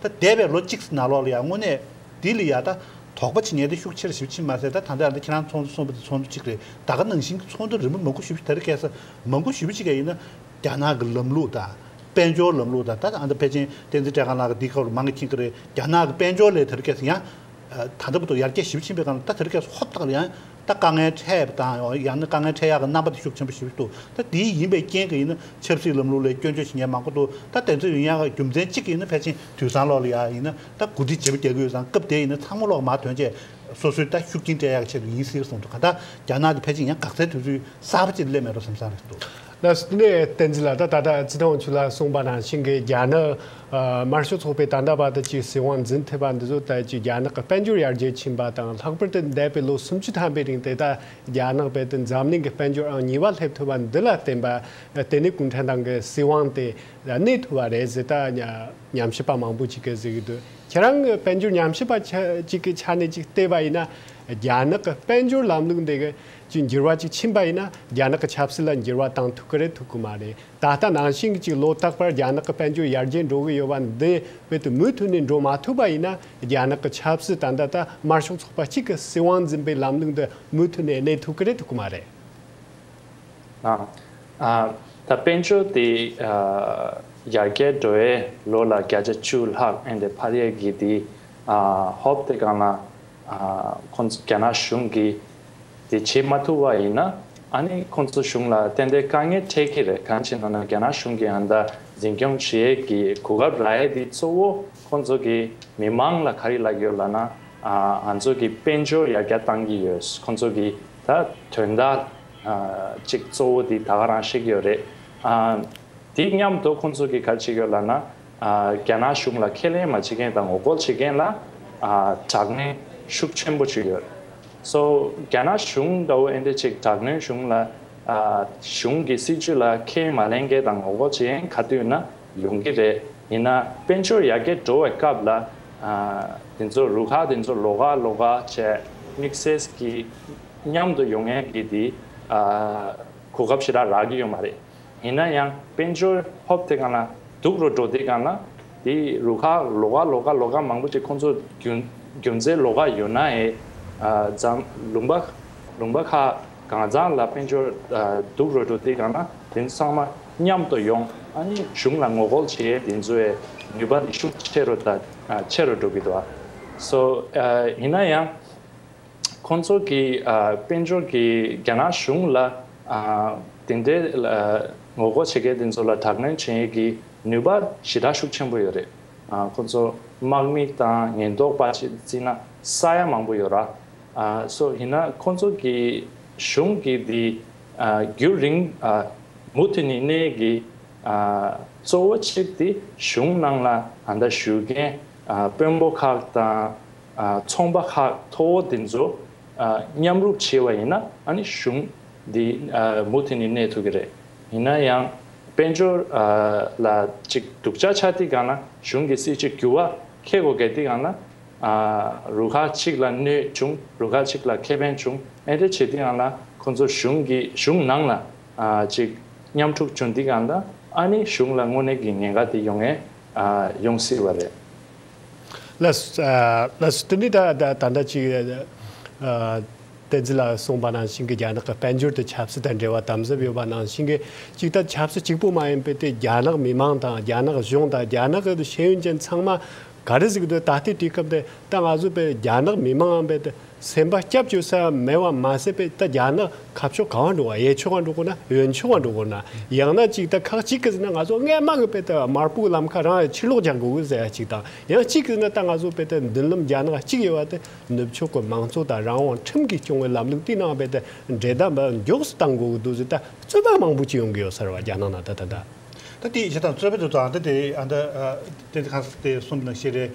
ད་འདས་པའི་ལོ་གཅིག་ན་ལོག་ལ་ཡང་དངོས་གནས་འདི་ལ་ཡང་ད་དོགས་པ་བྱེད་ཉེན་དེ་ཤུགས་ཆེ་རུ་ཞིབ་ཕྱིན་མ་ཟད་ད་ད་ལྟ་ཡང་ད་ཁྱེད་རང་ཚོགས་འདུ་གསུངས་པ་དེ་ཚོགས་འདུ་གཅིག་རེད་ད་ག་ནང་བཞིན་གྱི་ཚོགས་འདུ་རིན་པོ་མང་པོ་ཞུ་རྒྱུ་དེ་རེད་སྐད་ས་མང་པོ་ཞུ་ཕྱི་ག་ཡིན་ན་རྒྱ་ནག་གི་ལམ་ལུགས་དང་དཔལ་འབྱོར་ལམ་ལུགས་དང་ད་ད་ཨ་མདོ་ཕལ་ཆེན་བསྟན་འཛིན་བཀྲས་ཁང་ལགས་ཀྱི་འདིའི་སྐོར་ལ་མང་གི་མཁྱེན་གྱི་རེད་རྒྱ་ནག་གི་དཔལ་འབྱོར་ལས་དེ་རེད་སྐད་ས་ཡང་ད་ད་པོ་ཏོ་ཡར་རྒྱས་ཞིབ་ཕྱིན་པའི་སྐབས་ལ་ད་དེ་རེད་སྐད་ས་ཧོབ་ལྟ་ལ་ཡང་ད་དཀའ་ངལ་འཕྲད་པ་དང་ཡང་ན་དཀའ་ངལ་འཕྲད་ཡག་གི་རྣམ་པ་དེ་ཤུགས་ཆེན་པོ་ཞིག་འདུག་ད་དེ་ཡིན་པའི་རྐྱེན་གྱིས་ཡིན་ན་ཆབ་སྲིད་ལམ་ལུགས་ལས་སྐྱོན་བརྗོད་བྱེད་མཁན་མང་པོ་འདུག་ད་དེ་ཚོ་ཡིན་ཡང་རྒྱུ་མཚན་གཅིག་གིས་ཡིན་ན་ཕལ་ཆེན་དུས་བཟང་ལོག་ལ་ཡ་ཡིན་ན་ད་གོ་སྒྲིག་བྱེད་པོ་རྒྱག་གི་ཡོད་ཙང་སྐབས་དེ་ཡིན་ན་ཚང་མ་ལོག་མ་ཐོན་རྗེས་སོ་སོས་ད་ཤུགས་རྐྱེན་སྤྲད་ཡག་གི་ཆེད་དུ་ཡིན་སྲིད་གསུངས་འདུག་ག་ད་རྒྱ་ནག་གི་ཕལ་ཆེན་ཡང་འགག་རྩའི་དུས་ཚོད་གསར་པ་ཅིག་སླེབས་མེད་པ་སེམས་བཟང་རེད་འདུག། ལ་སོགས་ནས་བསྟན་
ཚུལ་ལ་ད་ལྟ་རྩི་ཐང་ཆུ་ལ་གསུངས་པ་ནང་བཞིན་གྱི་རྒྱ་ནག་དམར་ཤོག་ཚོགས་པའི་དམ་དྲག་པ་དག་གི་སྲིད་དབང་འཛིན་ཐེབས་པ་འདི་ཚོ་ལྟ་ཅི་རྒྱ་ནག་གི་དཔལ་འབྱོར་ཡར་རྒྱས་ཕྱིན་པ་དང་ལྷག་པར་དུ་འདས་པའི་ལོ་སུམ་ཅུ་ཐམ་པའི་རིང་དེ་ལྟ་རྒྱ་ནག་བས་ཏེ་འཛམ་གླིང་གི་དཔལ་འབྱོར་ཨང་གཉིས་པ་སླེབས་ཐུབ་པ་འདི་ལ་བརྟེན་པ་དེ་ནི་གུང་ཁྲན་ཏང་གི་སྲིད་དབང་དེ་གནས་ཐུབ་པ་རེད་ཟེར་ད་ཉམས་ཞིབ་པ་མང་པོ་ཅིག་གིས་ཟེར་གྱི་འདུག་ཁྱེད་རང་གི་དཔལ་འབྱོར་ཉམས་ཞིབ་པ་ཅིག་གི་ཆ་ནས་ཅིག་བལྟས་པ་ཡིན་ན་རྒྱ་ནག་གི་དཔལ་འབྱོར་ལམ་ལུགས་འདི་གི་ཀྱི་འགྱུར་བ་ཅིག་ཕྱིན་པ་ཡིན་ན་རྒྱ་ནག་གི་ཆབ་སྲིད་ལ་འགྱུར་བ་བཏང་ཐུབ་ཀི་རེད་ཐུབ་ཀི་མ་རེད་ད་ལྟ་ནང་བཞིན་གཅིག་ལོ་རྟག་པར་རྒྱ་ནག་གི་དཔལ་འབྱོར་ཡར་རྒྱས་འགྲོ་གི་ཡོད་པ་འདི་བོད་དུ་མུ་མཐུད་ནས་འགྲོ་མ་ཐུབ་པ་ཡིན་ན་རྒྱ་ནག་གི་ཆབ་སྲིད་ད་ལྟ་དམར་ཤོག་ཚོགས་པ་གཅིག་གི་སྲིད་དབང་འཛིན་པའི་ལམ་ལུགས་འདི་མུ་མཐུད་ནས་གནས་ཐུབ་ཀི་རེད་ཐུབ་ཀི་མ་རེད།
ད་དཔལ་འབྱོར་དེ་ཡར་རྒྱས་འགྲོ་བའི་ལོ་ལ་བརྒྱ་ཆ་བཅུ་ལྷག་ཨེ་འདི་འཕར་ཡས་གི་དེ་ཧོབ་དེ་གང་ལ་ཁོང་ཚོ་རྒྱ་ནག་གཞུང་གི་དེ་བྱེད་མ་ཐུབ་བ་ཡིན་ན་ཨ་ནི་ཁོང་ཚོ་གཞུང་ལ་ཏན་ཏན་དཀའ་ངལ་འཕྲད་ཀྱི་རེད་གང་བྱེད་ན་ན་རྒྱ་ནག་གཞུང་གི་ཨ་མདའ་འཛིན་སྐྱོང་བྱེད་ཀྱི་གོ་སྐབས་ར་ཡས་འདི་གཙོ་བོ་ཁོང་ཚོ་གི་མི་མང་ལ་ག་རི་ལག་ཡོད་ལ་ན་ང་ཚོ་གི་དཔལ་འབྱོར་ཡར་རྒྱ་བཏང་གི་ཡོད་ཁོང་ཚོ་གི་ད་དོན་དག་ཅིག་གཙོ་བོ་འདི་ད་ག་རང་བཤད་ཀྱི་ཡོད་རེད་འདི་མཉམ་དུ་ཁོང་ཚོ་གི་ག་བྱེད་ཡོད་ལ་ན། རྒྱ་ནག་གཞུང་ལ་ཁས་ལེན་མ་བྱེད་མཁན་དང་ངོ་རྒོལ་བྱེད་མཁན་ལ་དྲག་གནོན་ཤུགས་ཆེན་པོ་བྱས་ཡོད། སོ་རྒྱ་ནག་གཞུང་འདྲ་བོ་ཨེ་འདྲས་ཅིག་དྲག་གནོན་གཞུང་ལ་གཞུང་གི་སྲིད་ཇུས་ལ་ཁས་མ་ལེན་མཁན་དང་ངོ་རྒོལ་བྱེད་མཁན་ག་དུས་ན་ཡོང་གི་རེད་ཡིན་ན་དཔལ་འབྱོར་ཡར་རྒྱས་འགྲོ་བའི་སྐབས་ལ་དེ་ཚོ་རུ་ཁག་དེ་ཚོ་ལོག་ཨ་ལོག་ཨ་བྱས་དམིགས་བསལ་གྱིས་མཉམ་དུ་ཡོང་མཁན་གྱི་དེ་གོ་སྐབས་ཞེ་དྲག་རག་གི་ཡོད་མ་རེད། ཡིན་ན་ཡང་དཔལ་འབྱོར་ཧོབ་དེ་ག་ན་འདུག་རོ་བྲོ་དེ་ག་ན་དེ་རུ་ཁ་ལོ་ག་ལོ་ག་ལོ་ག་མང་པོ་དེ་ཁོང་ཚོ་རྒྱུ་མཚན་ལོ་ག་ཡོད་ན་ཨེ་བརྫམ་ལུང་པ་ལུང་པ་ཁ་གང་བརྫངས་ལ་དཔལ་འབྱོར་འདུག་རོ་བྲོ་དེ་ག་ན་དེ་ཚང་མ་མཉམ་དུ་ཡོང་ཨ་ནི་གཞུང་ལ་ངོ་རྒོལ་བྱེད་ཡས་དེ་ཚོ་ཡས་ནུས་པ་དེ་ཤུགས་ཆེ་རུ་དང་ཆེ་རུ་འགྲོ་གི་འདུག་ཨ་སོ་ཡིན་ན་ཡང་ཁོང་ཚོ་གིས་དཔལ་འབྱོར་གྱིས་རྒྱ་ནག་གཞུང་ལ་དེ་འདྲའི་ངོ་རྒོལ་བྱེད་མཁན་དེ་ཚོ་ལ་དྲག་གནོན་བྱེད་ཀྱི་ནུས་པ་ཞེ་དྲག་ཤུགས་ཆེན་པོ་ཡོད་རེད། ཁོང་ཚོ་དམག་མི་དང་ཉེན་རྟོག་པ་བཅས་བརྩིས་ན་ས་ཡ་མང་པོ་ཡོད་ར་སོགས་ཡིན་ན་ཁོང་ཚོ་གིས་གཞུང་གི་དེ་རྒྱུད་རིང་མུ་མཐུད་ནས་གནས་ཀྱི་གཙོ་བོ་གཅིག་དེ་གཞུང་ནང་ལ་ད་ལྟ་བཞུགས་མཁན་དཔོན་པོ་ཁག་དང། ཚོང་པ་ཁག་མཐོ་བོ་དེ་ཚོ་མཉམ་རུབ་བྱས་བ་ཡིན་ན་གཞུང་འདི་མུ་མཐུད་ནས་གནས་ཐུབ་ཀྱི་རེད། ཡིན་ན་ཡང་དཔལ་འབྱོར་ལ་ཅིག་སྡུག་ཅག་ཆགས་དུས་གང་ན་གཞུང་གི་སྲིད་ཇུས་འགྱུར་བ་ཁེལ་གོ་གལ་དུས་གང་ན་རུ་ཁག་ཅིག་ལ་གནོད་བྱུང་རུ་ཁག་ཅིག་ལ་ཁེ་ཕན་བྱུང་ཨེ་འདྲ་བྱས་དུས་གང་ན་ཁོ་ཚོ་གཞུང་གི་གཞུང་ནང་ལ་ཅིག་མཉམ་འཁྲུག་བྱུང་དུས་གང་ན་ཨ་ནི་གཞུང་ལ་དངོས་གནས་ཀྱི་ཉེན་ཁ་དེ་ཡོང་ངེས་ཡོང་སྲིད་བ་རེད།
ལསསྟོད་མི་ད་ད་ལྟ་ཅིག་བསྟན་འཛིན་ལགས་གསུངས་པ་ནང་བཞིན་གྱི་རྒྱ་ནག་གི་དཔལ་འབྱོར་དང་ཆབ་སྲིད་དང་འབྲེལ་བ་དམ་ཟབ་ཡོད་པ་ནང་བཞིན་གྱི་ཅིག་ད་ཆབ་སྲིད་གཅིག་པོ་མ་ཡིན་པའི་དེ་རྒྱ་ནག་མི་མང་དང་རྒྱ་ནག་གཞུང་དང་རྒྱ་ནག་གི་ཤེས་ཡོན་ཅན་ཚང་མ་ག་རེ་ཟིག་འདོད་ད་ལྟའི་དུས་སྐབས་འདི་ད་ང་ཚོ་པའི་རྒྱ་ནག་མི་མང་འམ་པའི་སེམས་པ་སྐྱབས་བཅོལ་ས་མེད་བར་མ་ཟད་པའི་རྟ་རྒྱག་ན་ཁ་ཕྱོགས་གང་བ་འགྲོ་བ་ཡས་ཆོལ་ཁ་འགྲོ་དགོས་ན་ཡོན་ཆོལ་ཁ་འགྲོ་དགོས་ན་ཡང་ན་གཅིག་རྟ་ཁག་གཅིག་གིས་ཟེར་ན་ང་ཚོ་སྔས་དམག་གི་དཔེ་ལྟར་མར་ཕུག་ལམ་ཁ་རང་ཕྱིར་ལོག་རྒྱག་དགོས་གི་ཟེར་བ་གཅིག་དང་ཡང་གཅིག་གིས་ཟེར་ན་རྟ་ང་ཚོ་དཔེ་ལྟར་མདུན་ལམ་རྒྱ་ནག་གཅིག་ཡོད་བ་དེ་ནུབ་ཕྱོགས་ཀྱི་མང་གཙོ་དང་རང་དབང་ཁྲིམས་ཀྱིས་སྐྱོང་བའི་ལམ་ལུགས་བསྟི་གནང་བ་དཔེ་ལྟར་འདྲེ་རྟ་འབབ་མགྱོགས་སུ་གཏང་དགོས་གི་འདུག་ཟེར་རྟ་རྩོད་པ་མང་པོ་གཅིག་ཡོང་གི་ཡོད་ཟེར་བ་རྒྱ་ནག་ནང་ད་ལྟ་རྟ། ད་དེ་ཡིས་བྱེད་
དང་རྩོད་པའི་དུས་ཚོད་ཨ་མདོ་དེ་ཨ་མདོ་དེ་གང་ཟེར་དེ་གསུམ་ནང་བཞི་རེད།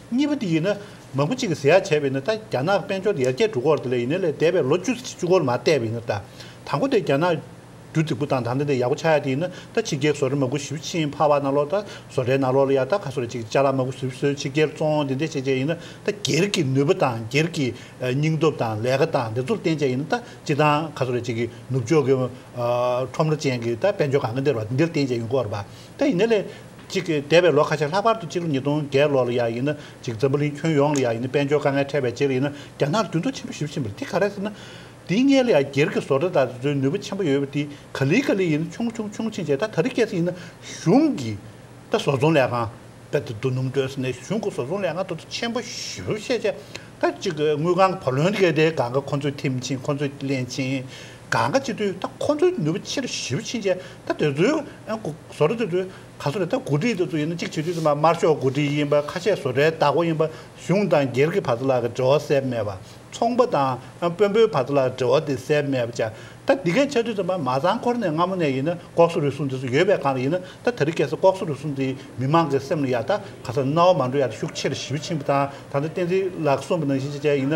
གཉིས་པ་དེ་ཡིན་ན། མང་པོ་གཅིག་གིས་ཟེར་ཡག་བྱས་པ་ཡིན་ན་ད་རྒྱ་ནག་དཔལ་འབྱོར་དེ་ཡར་རྒྱས་འགྲོ་སྐོར་དེ་ལས་ཡིན་ན་ལས་འདས་པའི་ལོ་བཅུ་བཅུ་སྐོར་མ་བལྟས་པ་ཡིན་ན་ད། དང་པོ་དེ་རྒྱ་ནག་རྒྱུ་རྫིག་པོ་དང་ད་ལྟ་དེ་ཡག་པོ་ཆགས་ཡ་དེ་ཡིན་ན་ད་ཕྱི་རྒྱལ་བཟོ་རེ་མ་དགུ་ཞིབ་ཕྱིན་ཕ་བ་ན་ལོག་ད་བཟོ་རེ་ན་ལོག་ལ་ཡ་ད་ག་སོ་རེ་གཅིག་ཅར་ལ་མ་དགུ་ཟིབ་ཟོས་ཕྱི་རྒྱལ་བཙོང་དེ་འདྲས་བྱས་བྱས་ཡིན་ན་ད་སྒེར་གྱི་ནུས་པ་དང་སྒེར་གྱི་སྙིང་སྟོབས་དང་ལས་ཀ་དང་དེ་ཚོར་བརྟེན་བྱས་ཡིན་ན་ད་སྤྱི་དང་ག་སོ་རེ་གཅིག་གི་ནུབ་ཕྱོགས་ཀྱི་ཁྲོམ་ར་ཅན་གྱི་ད་དཔལ་འབྱོར་གང་གི་འདིར་བ་འདི་འདྲར་བརྟེན་བྱས་ཡོང་སྐོར་བ། ད་ཡིན་ན་ལས། གཅིག། འདས་པའི་ལོ་ཁ་ཤས་ལྷག་པར་དུ་སྤྱི་ལོ་ཉིས་སྟོང་བརྒྱད་ལོ་ལ་ཡང་ཡིན་ན་གཅིག་འཛམ་བུ་གླིང་ཁྱོན་ཡོངས་ལ་ཡང་ཡིན་ན་དཔལ་འབྱོར་དཀའ་ངལ་འཕྲད་པའི་རྗེས་ལ་ཡིན་ན་རྒྱ་ནག་ལ་འགྱུར་ལྡོག་ཆེན་པོ་ཞིག་ཕྱིན་པ་རེད་དེ་ག་རེད་ཟེར་ན། འདིའི་སྔས་ལ་ཡང་སྒེར་གྱི་བཟོ་གྲྭ་དག་གིས་བཟོས་ནུས་པ་ཆེན་པོ་ཡོད་པ་དེ་ག་ལི་ག་ལི་ཡིན་ན་ཆུང་ཆུང་ཆུང་ཆེན་ཆེན་ད་ད་རེ་སྐྱེས་ཚེ་ཡིན་ན་གཞུང་གིས་ད་བཟོ་ཚོང་ལས་ཁང་ད་དེ་རྡོ་སྣུམ་སྟོན་ས་ནས་གཞུང་གིས་བཟོ་ཚོང་ལས་ཁང་ད་དོ་ཆེན་པོ་ཞིབ་བཤེར་བྱས་ད་གཅིག་དངུལ་ཁང་གི་བ་ལོན་ཏེ་ག་དེ་ག་ག་ཁོ་ཚོས་ཐིམ་ཕྱིན་ཁོ་ཚོས་གླན་ཕྱིན། གང་ག་ཅི་དུས་ད་ཁོ་ཚོའི་ནུས་པ་ཆེ་རུ་ཞི་བ་ཕྱིན་ཆད་ད་དེ་ཚོའི་བཟོ་གྲྭ་དེ་ཚོའི་ག་ཚོད་རེད་ད་གོ་སྒྲིག་དེ་ཚོ་ཡིན་ན་གཅིག་བྱེད་དུས་ཚོད་མ་དམར་ཤོག་གོ་སྒྲིག་ཡིན་པ་ཁ་ཤས་བཟོ་གྲྭའི་བདག་པོ་ཡིན་པ་གཞུང་དང་སྒེར་གྱི་བར་དུ་ལ་འབྲེལ་བ་གསལ་མེད་པ་ཚོང་པ་དང་དཔོན་པོའི་བར་དུ་ལ་འབྲེལ་བ་དེ་གསལ་མེད་པ་ཅག་ད་འདི་གས་ཆགས་དུས་ཚོད་མ་མ་ཚང་འཁོར་ནས་སྔ་མོ་ནས་ཡིན་ན་ལྐོག་སོ་རུལ་སུངས་དེ་ཚོ་ཡོད་པའི་གང་རེད་ཡིན་ན་ད་ད་རི་སྐད་ས་ལྐོག་སོ་རུལ་སུངས་དེ་མི་མང་གི་སེམས་ལ་ཡག་ད་ག་ས་ན་བ་མ་འགྲོ་ཡག་ད་ཤུགས་ཆེ་རུ་ཞི་བ་ཕྱིན་པ་དང་ད་ལྟ་བསྟན་འཛིན་ལགས་གསུངས་པ་ནང་བཞིན་ཅེ་ཅེ་ཡིན་ན་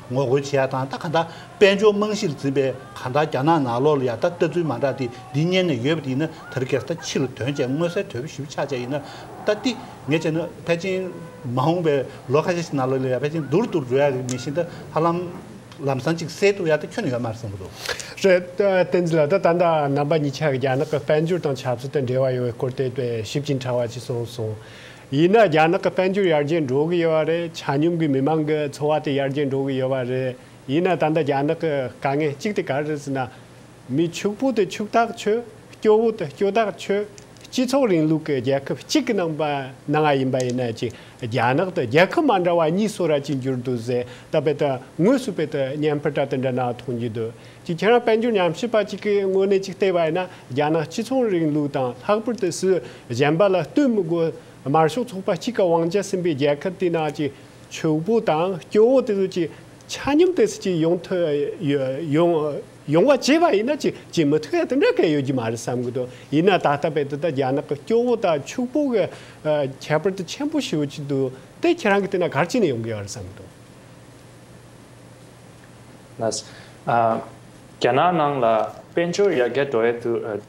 ངོ་རྒོལ་བྱེད་ཡག་དང་ད་ག་འདྲ། དཔལ་འབྱོར་རྨང་གཞིར་འཛིན་པའི་ག་འདྲ་རྒྱ་ནག་ནག་ལོག་ལ་ཡ་ད་ལྟ་ཚུལ་མ་འདྲ་དེ་འདི་གཉེར་ནས་ཡོད་པ་དེ་ཡིན་ན་དར་གེར་ད་ཕྱི་ལ་དོན་བྱས་མངོན་གསལ་དོད་པོ་ཞུ་ཕྱག་བྱས་ཡིན་ན་ད་ཏི་ངས་བྱས་ན་ཕལ་ཆེན་མ་འོངས་པའི་ལོ་ཁ་ཤས་ཤིག་ནག་ལོག་ལ་ཡ་ཕལ་ཆེན་རྡུར་རྡུར་བཟོ་ཡག་གི་མི་ཤེས་ད་ཧ་ལམ་ལམ་སང་ཅིག་སེལ་ཐུབ་ཡ་ད་ཁྱོན་ཡོད་མར་བསམ་གི་འདུག། རེད། བསྟན་
འཛིན་ལགས་ད་ད་འདའ་རྣམ་པ་གཉིས་ཆ་གི་རྒྱ་ནག་གི་དཔལ་འབྱོར་དང་ཆབ་སྲིད་དང་འབྲེལ་བ་ཡོད་པའི་སྐོར་བལྟས་པས་ཞིབ་ཅིང་ཕྲ་བ་ཅིག་གསུངས་སོང། ཡིན་ན་རྒྱ་ནག་གི་དཔལ་འབྱོར་ཡར་རྒྱས་འགྲོ་གི་ཡོད་བ་རེད་ཆ་སྙོམས་ཀྱི་མི་མང་གི་འཚོ་བ་དེ་ཡར་རྒྱས་འགྲོ་གི་ཡོད་བ་རེད་ཡིན་ན་ད་ལྟ་རྒྱ་ནག་གི་དཀའ་ངལ་གཅིག་དེ་ག་རེད་ཟེར་ན། མི་ཕྱུག་པོ་དེ་ཕྱུག་ཐག་ཆོད་སྐྱོ་བོ་དེ་སྐྱོ་ཐག་ཆོད་སྤྱི་ཚོགས་རིང་ལུགས་ཀྱི་རྒྱལ་ཁབ་གཅིག་གི་ནང་ན་ང་ཡིན་པ་ཡིན་ན་ཅིག་རྒྱ་ནག་དང་རྒྱལ་ཁབ་མ་འདྲ་བ་གཉིས་སུ་ར་གཅིག་འགྱུར་འདུག་ཟེར་ད་དཔེ་དང་དངོས་སུ་དཔེ་དང་བརྙན་ཕུ་དྲ་དེ་འདྲ་ནང་མཐོང་རྒྱུ་འདུག་གཅིག་ཁྱེད་རང་དཔལ་འབྱོར་ཉམས་ཞིབ་པ་གཅིག་གི་དངོས་གནས་ཅིག་བལྟས་པ་ཡིན་ན་རྒྱ་ནག་སྤྱི་ཚོགས་རིང་ལུགས་དང་ལྷག་པར་དུ་སུ་གཞན་པ་ལ་བསྟུན་མི་དགོས། དམར་ཤོག་ཚོགས་པ་གཅིག་གི་དབང་ཆ་ཟིན་པའི་རྒྱལ་ཁབ་དེའི་ནང་གི་ཕྱུག་པོ་དང་སྐྱོ་བོ་དེ་ཚོ་གཅིག་ཆ་མཉམ་དུ་སུ་གཅིག་ཡོང་ཐུབ་ཡོང་ཡོང་བ་བྱས་པ་ཡིན་ན་གཅིག་གཅིག་མི་ཐུབ་ཡ་དེ་འདྲ་ག་ཡོད་ཀྱི་མ་རེད་བསམ་གི་འདུག་ཡིན་ན་ད་ལྟ་བས་འདི་ལྟར་རྒྱ་ནག་གི་སྐྱོ་བོ་དང་ཕྱུག་པོ་གི་ཁྱད་པར་དེ་ཆེན་པོ་ཞིག་ཡོད་ཀྱི་འདུག་དེ་ཁྱེད་རང་གི་ལྟས་ན་ག་རེ་བྱས་ནས་ཡོང་གི་ཡོད་རེད་བསམ་གི་འདུག།
རྒྱ་ནག་ནང་ལ་དཔལ་འབྱོར་ཡར་རྒྱས་འགྲོ་ཡས་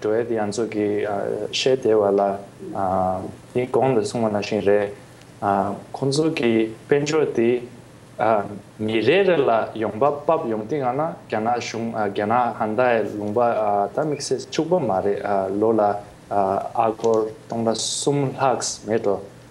འགྲོ་ཡས་དེ་ཡང་ཚོད་ཀྱི་ཤེས་བདེ་བ་ལ་དེའི་གོང་དུ་སོང་བ་ན་བཞིན་རས་ཁོང་ཚོ་གི་དཔལ་འབྱོར་དེ་ཉིན་རེ་རེ་ལ་ཡོང་འབབ་བབ་ཡོང་དེ་ཡང་ན་རྒྱ་ནག་གཞུང་རྒྱ་ནག་ཧན་ད་ཡས་ལུང་པ་ད་དམིགས་བསལ་བཅུག་པ་མ་རེད་ལོ་ལ་ཨ་སྒོར་སྟོང་དང་གསུམ་ལྷག་མེད་འགྲོ།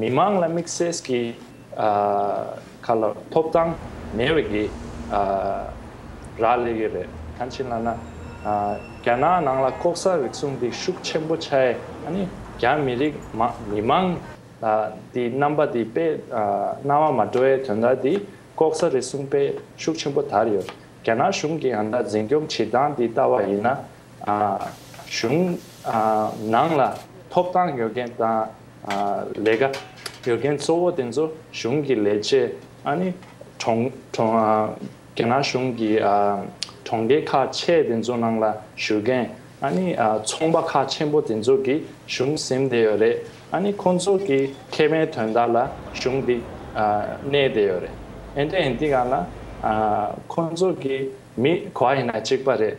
མི་མང་ལ་དམིགས་བསལ་གྱི་ཁ་ལོ་ཐོབ་ཐང་མེད་བའི་གི་ར་ལས་ཡོད་རེད་གང་ཕྱིན་ལབ་ན་རྒྱ་ནག་ནང་ལ་ལྐོག་ཟ་རིག་གཟུང་འདི་ཤུགས་ཆེན་པོ་ཆ་ཡེ་ཨ་ནི་རྒྱ་མི་རིགས་མི་མང་ལ་འདི་རྣམ་པ་འདི་དཔེ་རྣ་བ་མ་འགྲོ་ཡའི་དོན་དག་འདི་ལྐོག་ཟ་རིག་གཟུང་དཔེ་ཤུགས་ཆེན་པོ་དར་ཡོད་རྒྱ་ནག་གཞུང་གི་ཨ་མདའ་འཛིན་སྐྱོང་བྱེད་སྟངས་འདི་ལྟ་བ་ཡིན་ན་གཞུང་ནང་ལ་ཐོབ་ཐང་ཡོད་མཁན་དང་ལས་ཀ་ཡོད་མཁན་གཙོ་བོ་དེ་ཚོ་གཞུང་གི་ལས་བྱེད་ཨ་ནི་རྒྱ་ནག་གཞུང་གི་གྲོང་སྡེ་ཁག་ཆེ་དེ་ཚོ་ནང་ལ་བཞུགས་མཁན་ཨ་ནི་ཚོང་པ་ཁག་ཆེན་པོ་དེ་ཚོ་གིས་གཞུང་ཟིན་བསྡད་ཡོད་རེད་ཨ་ནི་ཁོང་ཚོ་གི་ཁེ་ཕན་དོན་དག་ལ་གཞུང་འདི་གནས་བསྡད་ཡོད་རེད་ཨེ་འདྲ་ཡིན་དེ་ག་ལ་ཁོང་ཚོ་གི་མི་ག་ཡིན་ན་གཅིག་པ་རེད་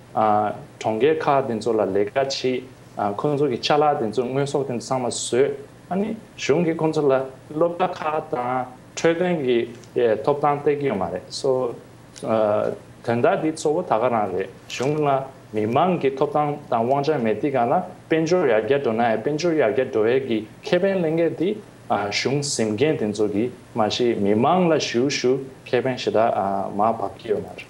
གྲོང་རྒལ་ཁག་དེ་ཚོ་ལ་ལས་ཀ་བྱེད། ཁོ་ཚོ་གི་ཆ་ལག་དེ་ཚོ་དངོས་ཟོག་དེ་ཚོ་ཚང་མ་བཟོས། གཞུང་གིས་ཁོ་ཚོ་ལ་སློབ་གྲྭ་ཁག་དང་འཕྲོད་བསྟེན་གྱི་ཐོབ་ཐང་སྟེར་གྱི་ཡོད་མ་རེད། དོན་དག་འདི་གཙོ་བོ་ད་ག་རང་རེད་གཞུང་ལ་མི་མང་གི་ཐོབ་ཐང་དང་དབང་ཆ་མེད་དེ་ག་ལ་དཔལ་འབྱོར་ཡར་རྒྱས་འགྲོ་ནའི་དཔལ་འབྱོར་ཡར་རྒྱས་འགྲོ་བའི་གི་ཁེ་ཕན་གླེང་མཁན་དེ་གཞུང་ཟིམ་མཁན་དེ་ཚོ་གི་མ་གཞི་མི་མང་ལ་ཞུ་ཞུ་ཁེ་ཕན་ཞེ་དྲག་མ་བབ་ཀྱི་ཡོད་མ་རེད།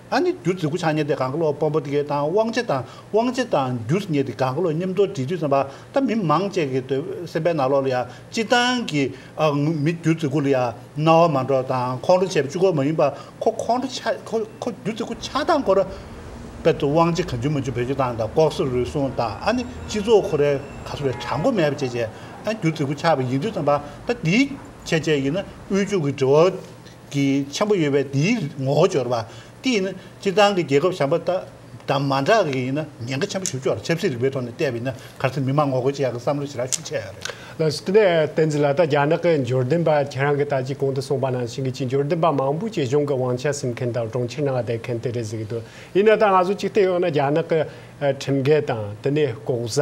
ཨ་ནི་རྒྱུ་རྫི་གུ་ཆང་བསྙལ་ཏེ་གང་གི་ལོག་སྤོམ་པོ་ཏི་གའི་དང་དབང་བྱེད་དང་དབང་བྱེད་དང་རྒྱུ་རྫི་བསྙལ་ཏེ་གང་གི་ལོག་སྙེམས་དོར་དྲི་དུས་སེམས་པ་དང་མི་མང་བཅས་ཀྱི་འདོད་སེམས་པའི་ནག་ལོག་ལ་ཡང་སྤྱི་དང་གི། མི་རྒྱུ་རྫི་གུ་ལ་ཡང་རྣ་བ་མ་འདྲོག་དང་ཁོང་ཁྲོ་བྱེད་པའི་བཅུ་སྐོར་མ་ཡིན་པར་ཁོ་ཁོང་ཁྲོ་ཆ་ཁོ་ཁོ་རྒྱུ་རྫི་གུ་ཆགས་སྡང་འཁོར། དཔེར་དུ་དབང་བྱེད་གང་ཆུད་མ་ཆུད་བོད་ཆུ་དང་དང་ལྐོག་ཟ་རུལ་སུངས་དང་ཨ་ནི་སྤྱི་ཚོགས་ཁོ་རའི་ག་ས་བའི་གྲགས་མགོ་མེད་པ་བཅས་བྱས་ཨ་རྒྱུ་རྫི་གུ་ཆགས་པ་ཡིན་དུས་སེམས་པ་དང་དེའི་ཁྱད་ཆས་ཡིན་ན་དབུལ་ཕྱུག་གི་འབྲེལ་བ། གྱི་ཆེན་པོ་ཡོད་པས་དེའི་ངོ་བོ་སྦྱོར་བ་སྟེ་ཡིན་ན་སྤྱིར་བཏང་གི་རྒྱལ་ཁབ་གཞན་པ་དང་མ་འདྲ་བ་ཞིག་ཡིན་ན་ཉེན་ཁ་ཆེན་པོ་ཞུ་ཆོག་ལ་ཆབ་སྲིད་རིག་པའི་ཐོག་ནས་བལྟས་པ་ཡིན་ན་གལ་སྲིད་མི་མང་ངོ་རྒོལ་བྱེད་ཡག་གི་བསམ་བློ་ཞེ་དྲག་ཤུགས་ཆེ་ཡག་རེད། བསྟན་
འཛིན་ལགས་ད་རྒྱ་ནག་གི་འབྱོར་ལྡན་པ་ཁྱེད་རང་གི་ལྟ་ཅི་གོང་དུ་གསུངས་པ་ནང་ཞིང་གི་ཅི་འབྱོར་ལྡན་པ་མང་པོ་བཅས་གཞུང་གི་དབང་ཆ་ཟིན་མཁན་དང་གྲོང་ཁྱེར་ནང་བསྡད་མཁན་དེ་རེད་ཟེར་གྱི་འདུག་ཡིན་ན་ད་ང་ཚོ་ཅིག་བལྟས་ཡོང་ན་རྒྱ་ནག་གི་ཁྲིམས་འགལ་དང་དེ་ནས་ལྐོག་ཟ།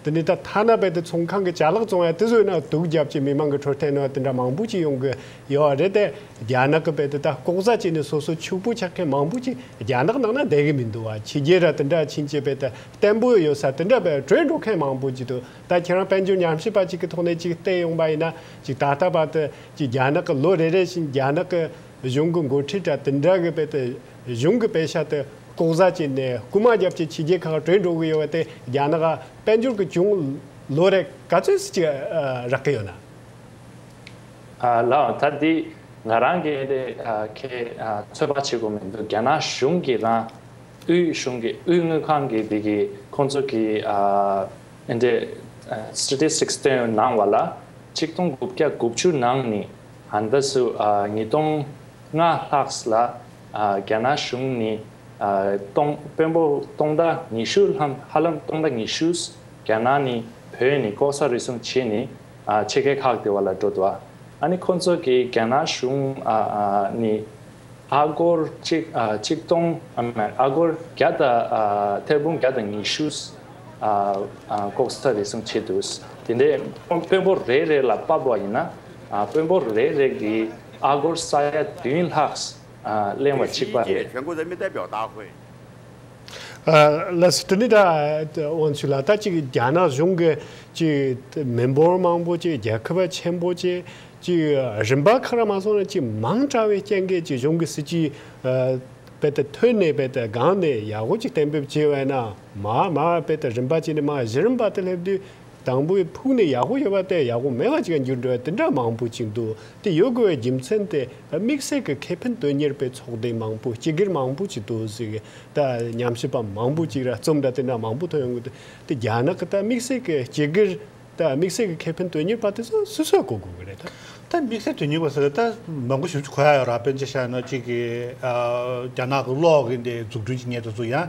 དེ་ནས་ད་ཐ་ན་རྦད་དེ་ཚོང་ཁང་གི་བྱ་གླག་བཙོང་ཡ་དེ་བཟོས་ན་དུག་བརྒྱབ་ཅེས་མི་མང་གི་འཕྲོད་བསྟེན་ནང་དེ་འདྲ་མང་པོ་ཅིག་ཡོང་གི་ཡོད་རེད་དེ། རྒྱ་ནག་གི་བེད་དེ་ད་ལྐོག་ཟ་བྱས་ནས་སོ་སོ་ཕྱུག་པོ་ཆགས་མཁན་མང་པོ་ཅིག་རྒྱ་ནག་ནང་ན་བསྡད་གི་མི་འདུག་བ་ཕྱི་རྒྱལ་ར་དེ་འདྲ་ཕྱིན་ཆད་བེད་དེ་བརྟན་པོ་ཡོད་ས་དེ་འདྲ་བེད་བྲོས་འགྲོ་མཁན་མང་པོ་ཅིག་འདུག་ད་ཁྱེད་རང་དཔལ་འབྱོར་ཉམས་ཞིབ་པ་ཅིག་གི་ཐོག་ནས་ཅིག་བལྟས་ཡོང་པ་ཡིན་ན་ཅིག་ད་ལྟ་བར་དུ་ཅིག་རྒྱ་ནག་གི་ལོ་རེ་རེ་བཞིན་རྒྱ་ནག་གི་གཞུང་གི་འགོ་ཁྲིད་ར་དེ་འདྲ་གི་བེད་དེ་གཞུང་གི་བེད་ཤ་དེ་ལྐོག་ཟ་བྱས་ནས་རྐུ་མ་རྒྱབ་ཅིག་ཕྱི་རྒྱལ་ཁག་བྲོས་འགྲོ་གི་ཡོད་བ་དེ་རྒྱ་ནག་དཔལ་འབྱོར་གི་ཅུང་ལོ་རེ་ག་ཚོད་ཟིག་ཅིག་རག་གི་ཡོད་ན།
ལའང་ད་འདི་ང་རང་གི་ཨེ་དེ་ཁྱེད་ཚོད་དཔག་བྱེད་དགོས་མི་འདུག་རྒྱ་ནག་གཞུང་གི་རང་དབུས་གཞུང་གི་དབུས་དངུལ་ཁང་གི་འདི་གི་ཁོང་ཚོ་གི་ཨེ་དེ Statistics སྟོན་གནང་བ་ལ་གཅིག་སྟོང་དགུ་བརྒྱ་དགུ་བཅུ་ནང་ནི་ཧན་ད་སུ་ཉིས་སྟོང་ལྔ་ལྷག་ལ་རྒྱ་ནག་གཞུང་ནི་སྟོང་དཔོན་པོ་སྟོང་དང་ཉི་ཤུ་ལྷམ་ཧ་ལམ་སྟོང་དང་ཉི་ཤུས་རྒྱ་ནག་ནི་བོད་ནི་ལྐོག་ཟ་རུལ་སུངས་བྱེད་ནི་ཆེད་མཁས་ཁག་དེ་བ་ལ་འགྲོ་འདུག་ཨ་ནི་ཁོང་ཚོ་གིས་རྒྱ་ནག་གཞུང་ནི་ཨ་སྒོར་གཅིག་སྟོང་མེད་ཨ་སྒོར་བརྒྱ་དང་ཐེར་འབུམ་བརྒྱ་དང་ཉི་ཤུ་ལྐོག་ཟ་རེ་ཟུང་བྱས་འདུག་དེ་འདྲའི་དཔོན་པོ་རེ་རེ་ལ་དཔའ་བོ་བ་ཡིན་ན་དཔོན་པོ་རེ་རེ་གིས་ཨ་སྒོར་ས་ཡ་བདུན་ལྷག་གླེང་བ་གཅིག་པ་རེད།
ལས་དེ་ནི་ད་དབང་ཚུལ་ལ་ད་ཅིག་རྒྱ་ནག་གཞུང་གི་ཅིག་མི་འབོར་མང་པོ་ཅིག་རྒྱལ་ཁབ་ཆེན་པོ་ཅིག་ཅིག་རིམ་པ་ཁག་ལ་མ་སོང་ན་ཅིག་མང་དྲགས་བའི་རྐྱེན་གྱིས་ཅིག་གཞུང་གི་སྲིད་ཇུས་རྦད་དེ་ཐོས་ནས་རྦད་དེ་སྒང་ནས་ཡག་པོ་ཅིག་གཏན་འབེབས་བྱས་བས་ན་མ་མ་རྦད་དེ་རིམ་པ་ཅིག་ནས་མ་གཞི་རིམ་པ་དེ་སླེབས་དུས་དང་པོའི་ཕུགས་ནི་ཡག་པོ་ཡོད་པ་སྟེ་ཡག་པོ་མེད་པ་ཅིག་འགྱུར་འགྲོ་བ་འདི་འདྲ་མང་པོ་ཅིག་འདུག་དེ་ཡོད་དགོས་པའི་རྒྱུ་མཚན་དེ་དམིགས་བསལ་གྱི་ཁེ་ཕན་དོན་གཉེར་པའི་ཚོགས་སྡེ་མང་པོ་སྤྱི་སྒེར་མང་པོ་ཅིག་འདུག་གཟིགས་ད་ཉམས་ཞིབ་པ་མང་པོ་ཅིག་ར་རྩོམ་འདྲ་དེ་འདྲ་མང་པོ་ཐོན་ཡོང་གི་འདུག་དེ་རྒྱ་ནག་གི་ད་དམིགས་བསལ་གྱི་སྤྱི་སྒེར་ད་དམིགས་བསལ་གྱི་ཁེ་ཕན་དོན་གཉེར་པ་དེ་ཚོ་སུ་སུའི་གོ་དགོས་ཀྱི་རེད་ད། ད་དམིགས་བསལ་དོན་གཉེར་
པ་ཟེར་ན་ད་མང་པོ་ཞིག་གོ་ཡ་ཡོད་ར་དཔེ་འཇལ་བྱ་ཡོད་ན་ཅིག་གི་རྒྱ་ནག་གི་གློག་གི་འདི་འཛུགས་སྐྲུན་གྱི་ཉེ་དུ་ཚུ་ཡང་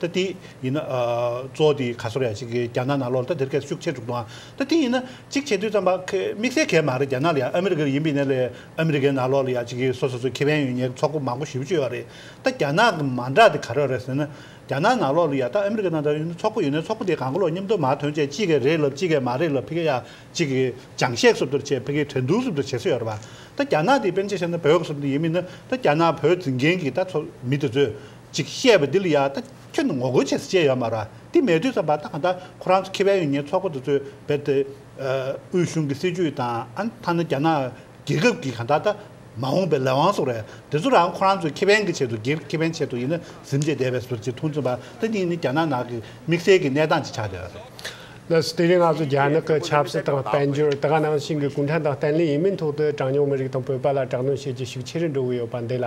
ད་དེ་ཡིན་ན། གཙོ་བོ་དེ་ག་སོར་ཡ་ཞིག་གིས་རྒྱ་ནག་ནང་ལོག་ལ་ད་དེར་ཁེར་ཤུགས་ཆེ་དྲུག་འདུག་ཨང། ད་དེ་ཡིན་ན། གཅིག་བྱེད་དུས་ཙམ་པ། དམིགས་བསལ་གས་མ་རེད་རྒྱ་ནག་ལ་ཡ་ཨ་མི་རི་ཀར་ཡིན་པའི་ནས་ལས་ཨ་མི་རི་ཀའི་ནང་ལོག་ལ་ཡ་ཞིག་གིས་སོ་སོ་སོའི་ཁེ་ཕན་ཡོད་ཉེས་ཀྱི་ཚོགས་པ་མང་པོ་ཞི་བ་བྱོས་ཡོད་རེད། ད་རྒྱ་ནག་གི་མ་འདྲ་དེ་ག་རེ་རེད་ཟེར་ན། རྒྱ་ནག་ནང་ལོག་ལ་ཡ་ད་ཨ་མི་རི་ཀའི་ནང་འདྲ་ཡིན་ན་ཚོགས་པ་ཡོད་ནས་ཚོགས་པ་དེ་གང་ག་ལོག་སྙེམས་དོ་མ་དོན་བཅས་གཅིག་གས་རེད་ལབ་གཅིག་གས་མ་རེད་ལབ་ཕི་ག་ཡ་ཅིག་གིས་ཅང་ཤེས་སོབ་དོར་བྱས་ཕི་གའི་དྲན་གདུང་སོབ་དོར་བྱེད་སོ་ཡོད་རེད་པ། ད་རྒྱ་ནག་དེ་པན་ཆེ་ཤ་ན་བོད་ག་སོབ་དེ་ཡིན་མིན་ན་ད་རྒྱ་ནག་བོད་འཛིན་མཁན་གྱི་ད་ཚོ་མི་དེ་ཚོས་ཅིག་བཤད་པ་འདི་ལ་ཡང་ད་ཁྱོད་ངོ་རྒོལ་བྱེད་ས་ཅི་ཡོད་མ་རང་དེ་མེད་དུས་སམ་བ་ད་ག་ད་ཁོ་རང་ཚོ་ཁེ་བན་ཡོ་ཉེ་ཚོགས་པ་དེ་ཚོས་བེད་དེ་དབུས་གཞུང་གི་སྲིད་ཇུས་དང་ཨན་ཐ་ན་རྒྱ་ནག་རྒྱལ་ཁབ་ཀྱི་ག་ད་ད་མ་འོངས་པའི་ལས་དབང་སོགས་རེད་དེ་ཚོ་རང་ཁོ་རང་ཚོའི་ཁེ་བན་གི་ཆེད་དུ་སྒེར་གི་ཁེ་བན་ཆེད་དུ་ཡིན་ན་གཟིམ་བྱེད་བསྡད་པའི་ཟུར་གྱི་མཐོང་ཚུལ་བ་ད་གཉིས་ནི་རྒྱ་ནག་ནང་གི་དམིགས་བསལ་གི་གནས་སྟངས་ཅིག་ཆགས་བསྡད་པ་རེད། ལོས་དེ་རིང་
ང་ཚོ་རྒྱ་ནག་གི་ཆབ་སྲིད་དང་དཔལ་འབྱོར་ད་ག་ནང་བཞིན་གྱི་གུང་ཁྲན་ཏང་བརྟན་ལྷིང་ཡིན་མིན་ཐོག་ཏུ་གྲངས་ཉུང་མི་རིགས་དང་བོད་པ་ལ་དྲག་གནོན་བྱེད་རྒྱུ་ཞིག་ཆེ་རུ་འགྲོ་གི་ཡོད་པ་འདི་ལ་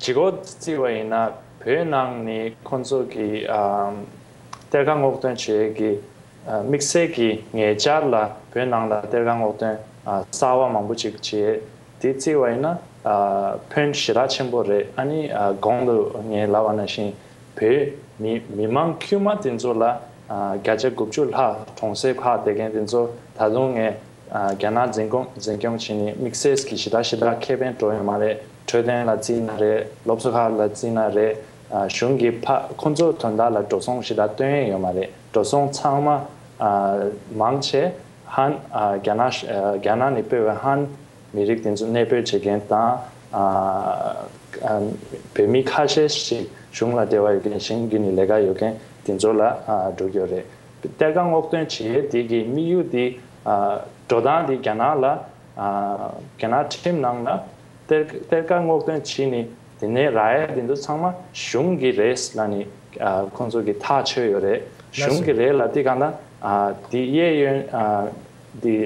ཇི་སྐོར་བརྩི་བ་ཡིན་ན་བོད་ནང་ནས་ཁོང་ཚོ་གི་གཏེར་ཁ་སྔོག་འདོན་བྱེད་ཀྱི་དམིགས་བསལ་གྱི་ངེས་འཆར་ལ་བོད་ནང་ལ་གཏེར་ཁ་སྔོག་འདོན་གསར་བ་མང་པོ་ཅིག་བྱས་དེ་བརྩི་བ་ཡིན་ན་ཕོན་ཞེ་དྲག་ཆེན་པོ་རེད་ཨ་ནི་གོང་དུ་ངས་ལབ་པ་ན་བཞིན་བོད་མི་མི་མང་དཀྱུས་མ་དེ་ཚོ་ལ་བརྒྱ་ཆ་དགུ་བཅུ་ལྷག་གྲོང་གསེབ་ཁག་བསྡད་མཁན་དེ་ཚོ་ད་དུང་ངས་རྒྱ་ནག་འཛིན་སྐོམ་འཛིན་སྐྱོམ་བྱས་ནས་དམིགས་བསལ་གྱི་ཞི་དར་ཞི་དར་ཁེ་ཕན་སྤྲོ་ཡོད་མ་རེད་འཕྲོད་བསྟེན་ལ་བརྩིས་ན་རེད་སློབ་གསོ་ཁག་ལ་བརྩིས་ན་རེད་གཞུང་གི་ཕ་ཁོ་ཚོ་དོན་དག་ལ་འགྲོ་སོང་ཞི་དར་སྟོན་ཡས་ཡོད་མ་རེད་འགྲོ་སོང་ཚང་མ་མང་ཆེ་ཧན་རྒྱ་ནག་རྒྱ་ནག་ནས་སྤེལ་བའི་ཧན་མི་རིགས་དེ་ཚོ་གནས་སྤོས་བྱེད་མཁན་དང་བོད་མི་ཁ་ཤས་ཤིག་གཞུང་ལ་དེ་བ་ཡོད་མཁན་ཞིང་རྒྱུ་ནས་ལས་ཀ་ཡོད་མཁན་དེ་ཚོ་ལ་འགྲོ་གི་ཡོད་རེད་གཏེར་ཁ་སྔོག་འདོན་བྱས་རྗེས་ཀྱི་དམིགས་ཡུལ་དེ། འགྲོ་སྟངས་དེ་རྒྱ་ནག་ལ། རྒྱ་ནག་ཁྲིམས་ནང་ལ། གཏེར་ཁ་སྔོག་འདོན་བྱས་ནས་དེ་ནས་ར་ཡ་དེ་ཚོ་ཚང་མ་གཞུང་གི་རེད་ལ་ནི། ཁོང་ཚོ་གི་ཐག་ཆོད་ཡོད་རེད། གཞུང་གི་རེད་ལ་དེ་གང་ན། དེ་གཡས་གཡོན། དེ།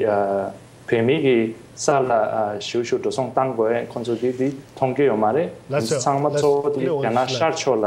བོད་མི་གི་ས་ལ་བཞུགས་བཞུགས་འགྲོ་སོང་བཏང་དགོས་ཁོང་ཚོ་གི་དེ་མཐོང་གི་ཡོད་མ་རེད། ཚང་མ་གཙོ་བོ་དེ་རྒྱ་ནག་ཤར་ཕྱོགས་ལ།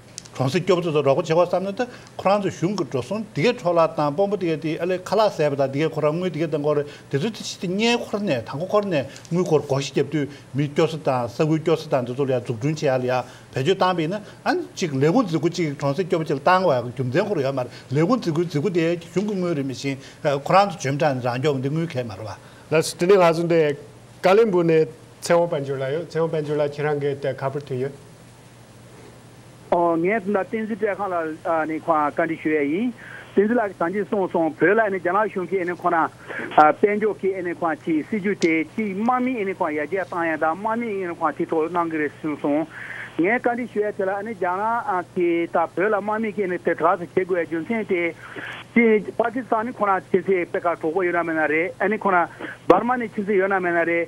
གྲོང་གསེབ་སྐྱོབ་གསོ་དང་རོགས་པ་བྱེད་སྐོར་བསམ་ནས་ད་ཁོ་རང་ཚོའི་གཞུང་གི་འགྲོ་སོང་དེ་གས་འཕྲོག་བརླག་བཏང་དཔོན་པོ་དེ་གས་དེའི་ཨ་ལས་ཁ་ལག་ཟས་པ་དང་དེ་གས་ཁོ་རང་དངུལ་དེ་གས་བཏང་སྐོར་དེ་ཚོ་ཚེ་ཕྱི་དེ་སྙེད་འཁོར་ནས་དང་པོ་འཁོར་ནས་དངུལ་སྐོར་སྒོ་ཤི་བརྒྱབ་དུས་མི་སྐྱོ་ས་དང་ས་ཁུལ་སྐྱོ་ས་དང་དེ་ཚོ་ལ་ཡང་འཛུགས་སྐྲུན་བྱེད་ཡག་ལ་ཡང་བེད་སྤྱོད་བཏང་པས་ན་ཨ་ནི་གཅིག་ལས་ཁུངས་རྫི་ཁུ་གཅིག་གྲོང་གསེབ་སྐྱོབ་པ་བཅས་ལ་བཏང་བའི་རྒྱུ་མཚན་ཁོ་རང་ཡོད་མ་རེད་ལས་ཁུངས་རྫི་ཁུའི་རྫི་ཁུ་དེ་གཞུང་གི་དངུལ་རེད་མི་ཞིང་ཁོ་རང་ཚོ་འཇོན་པྲ་ནི་རང་སྐྱོང་གི་འདི་དངུལ་གས་མ་རེད་བ། ལ་སི་ཏི་ནི་ལྷ་ཟུང་
དེ་ཀ་ལེན་པུར་ནས་ཚེ་དབང་དཔལ་འབྱོར་ལ་ཡོད་ཚེ་དབང་དཔལ་འབྱོར་ལ་ཁྱེད་རང་གས་དེ་ག་པུར་ཐོན་ཡོད།
ངས་ད་བསྟན་འཛིན་བཀྲས་ཁང་ལ་ནི་ཁོང་ལ་བཀའ་འདྲི་ཞུ་ཡས་ཡིན། བསྟན་འཛིན་ལགས་ཀྱི་ཟང་ཆེ་སོང་སོང་བོད་ལ་ནི་རྒྱ་ནག་གཞུང་གིས་ནི་ཁོང་རང་དཔལ་འབྱོར་གྱི་ནི་ཁོང་གི་སྲིད་ཇུས་དེ་གཅིག་དམག་མིས་ནི་ཁོང་ཡར་རྒྱས་བཏང་ཡས་དང་དམག་མིས་ནི་ཁོང་ཐིག་ཐོག་གནང་གི་རེད་གསུངས་སོང། ངས་བཀའ་འདྲི་ཞུ་ཡས་དེ་ལ་ནི་རྒྱ་ནག་གི་ད་བོད་ལ་དམག་མིས་ཀྱི་ནི་དེ་ག་ཚོད་བྱེད་དགོས་ཡས་རྒྱུ་མཚན་དེ་ཅི་པ་ཀི་སྟང་ནི་ཁོང་རང་ཕྱིན་ཚེ་པེ་ཀ་གྲོགས་པོ་ཡོད་ན་མེད་ན་རེད་ཨ་ནི་ཁོང་རང་འབར་མ་ནི་ཕྱིན་ཚེ་ཡོད་ན་མེད་ན་རེད།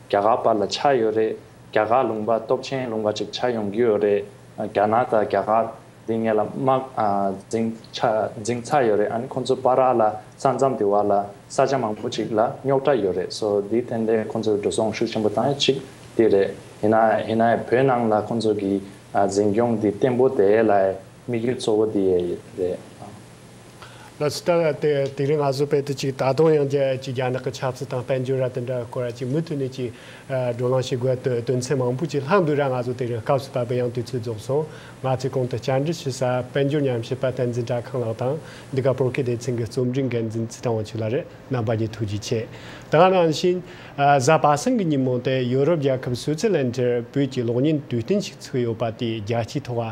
རྒྱ་གར་བར་ལ་ཆགས་ཡོད་རེད་རྒྱ་གར་ལུང་པ་སྟོབས་ཆེན་ལུང་པ་ཅིག་ཆགས་ཡོང་གི་ཡོད་རེད་རྒྱ་ནག་དང་རྒྱ་གར་འདི་ངས་ལ་དམག་འཛིང་འཛིང་ཚར་ཡོད་རེད་ཨ་ནི་ཁོང་ཚོ་པ་རག་ལ་ས་མཚམས་དེ་བར་ལ་ས་ཆ་མང་པོ་ཅིག་ལ་རྙོག་དྲ་ཡོད་རེད་སོ་དེའི་ཐད་འདས་ཁོང་ཚོས་འགྲོ་སོང་ཤུགས་ཆེན་པོ་བཏང་ཡོད་ཅིག་དེ་རེད་ཡིན་ན་ཡིན་ན་བོད་ནང་ལ་ཁོང་ཚོ་གི་འཛིན་སྐྱོང་འདི་བརྟན་པོ་དེ་ལ་
དམིགས་ཡུལ་གཙོ་བོ་དེ་རེད། ལོ་ཙཱ་བ་དེ་དེ་རིང་ང་ཟུར་པེད་དུ་ཅིག་ད་དུང་ཡང་རྒྱལ་སྤྱིའི་རྒྱ་ནག་གི་ཆབ་སྲིད་དང་དཔལ་འབྱོར་ར་དེ་འདྲ་སྐོར་ར་ཅིག་མུ་མཐུད་ནས་ཅིག་བགྲོ་གླེང་བྱེད་དགོས་དོན་དོན་ཚན་མང་པོ་ཅིག་ལྷག་འདུག་ར་ང་ཚོ་དེ་རིང་སྐབས་སུ་བབས་པའི་ཡང་དུས་ཚོད་རྫོགས་སོང་ང་ཚོས་གོང་དུ་བསྐྱར་འབྲི་བྱེད་ས་དཔལ་འབྱོར་ཉམས་ཞིབ་པ་བསྟན་འཛིན་གྲྭ་ཁང་ལགས་དང་འདི་ག་པོར་ཁེ་སྡེ་ཚན་གྱི་རྩོམ་སྒྲིག་འགན་འཛིན་ཙི་ཏང་དབང་ཕྱུག་ལགས་རེད་རྣམ་པ་གཉིས་ཐུགས་རྗེ་ཆེ་ད་རང་བཞིན། གཟའ་པ་སེང་གི་ཉིན་མོ་སྟེ་ཡུ་རོབ་རྒྱལ་ཁབ་སུའུ་ཙི་ལན་དེར་བོད་ཀྱི་གློག་བརྙན་དུས་སྟོན་ཞིག་ཚུགས་ཡོད་པ་དེ་རྒྱལ་སྤྱིའི་ཐོག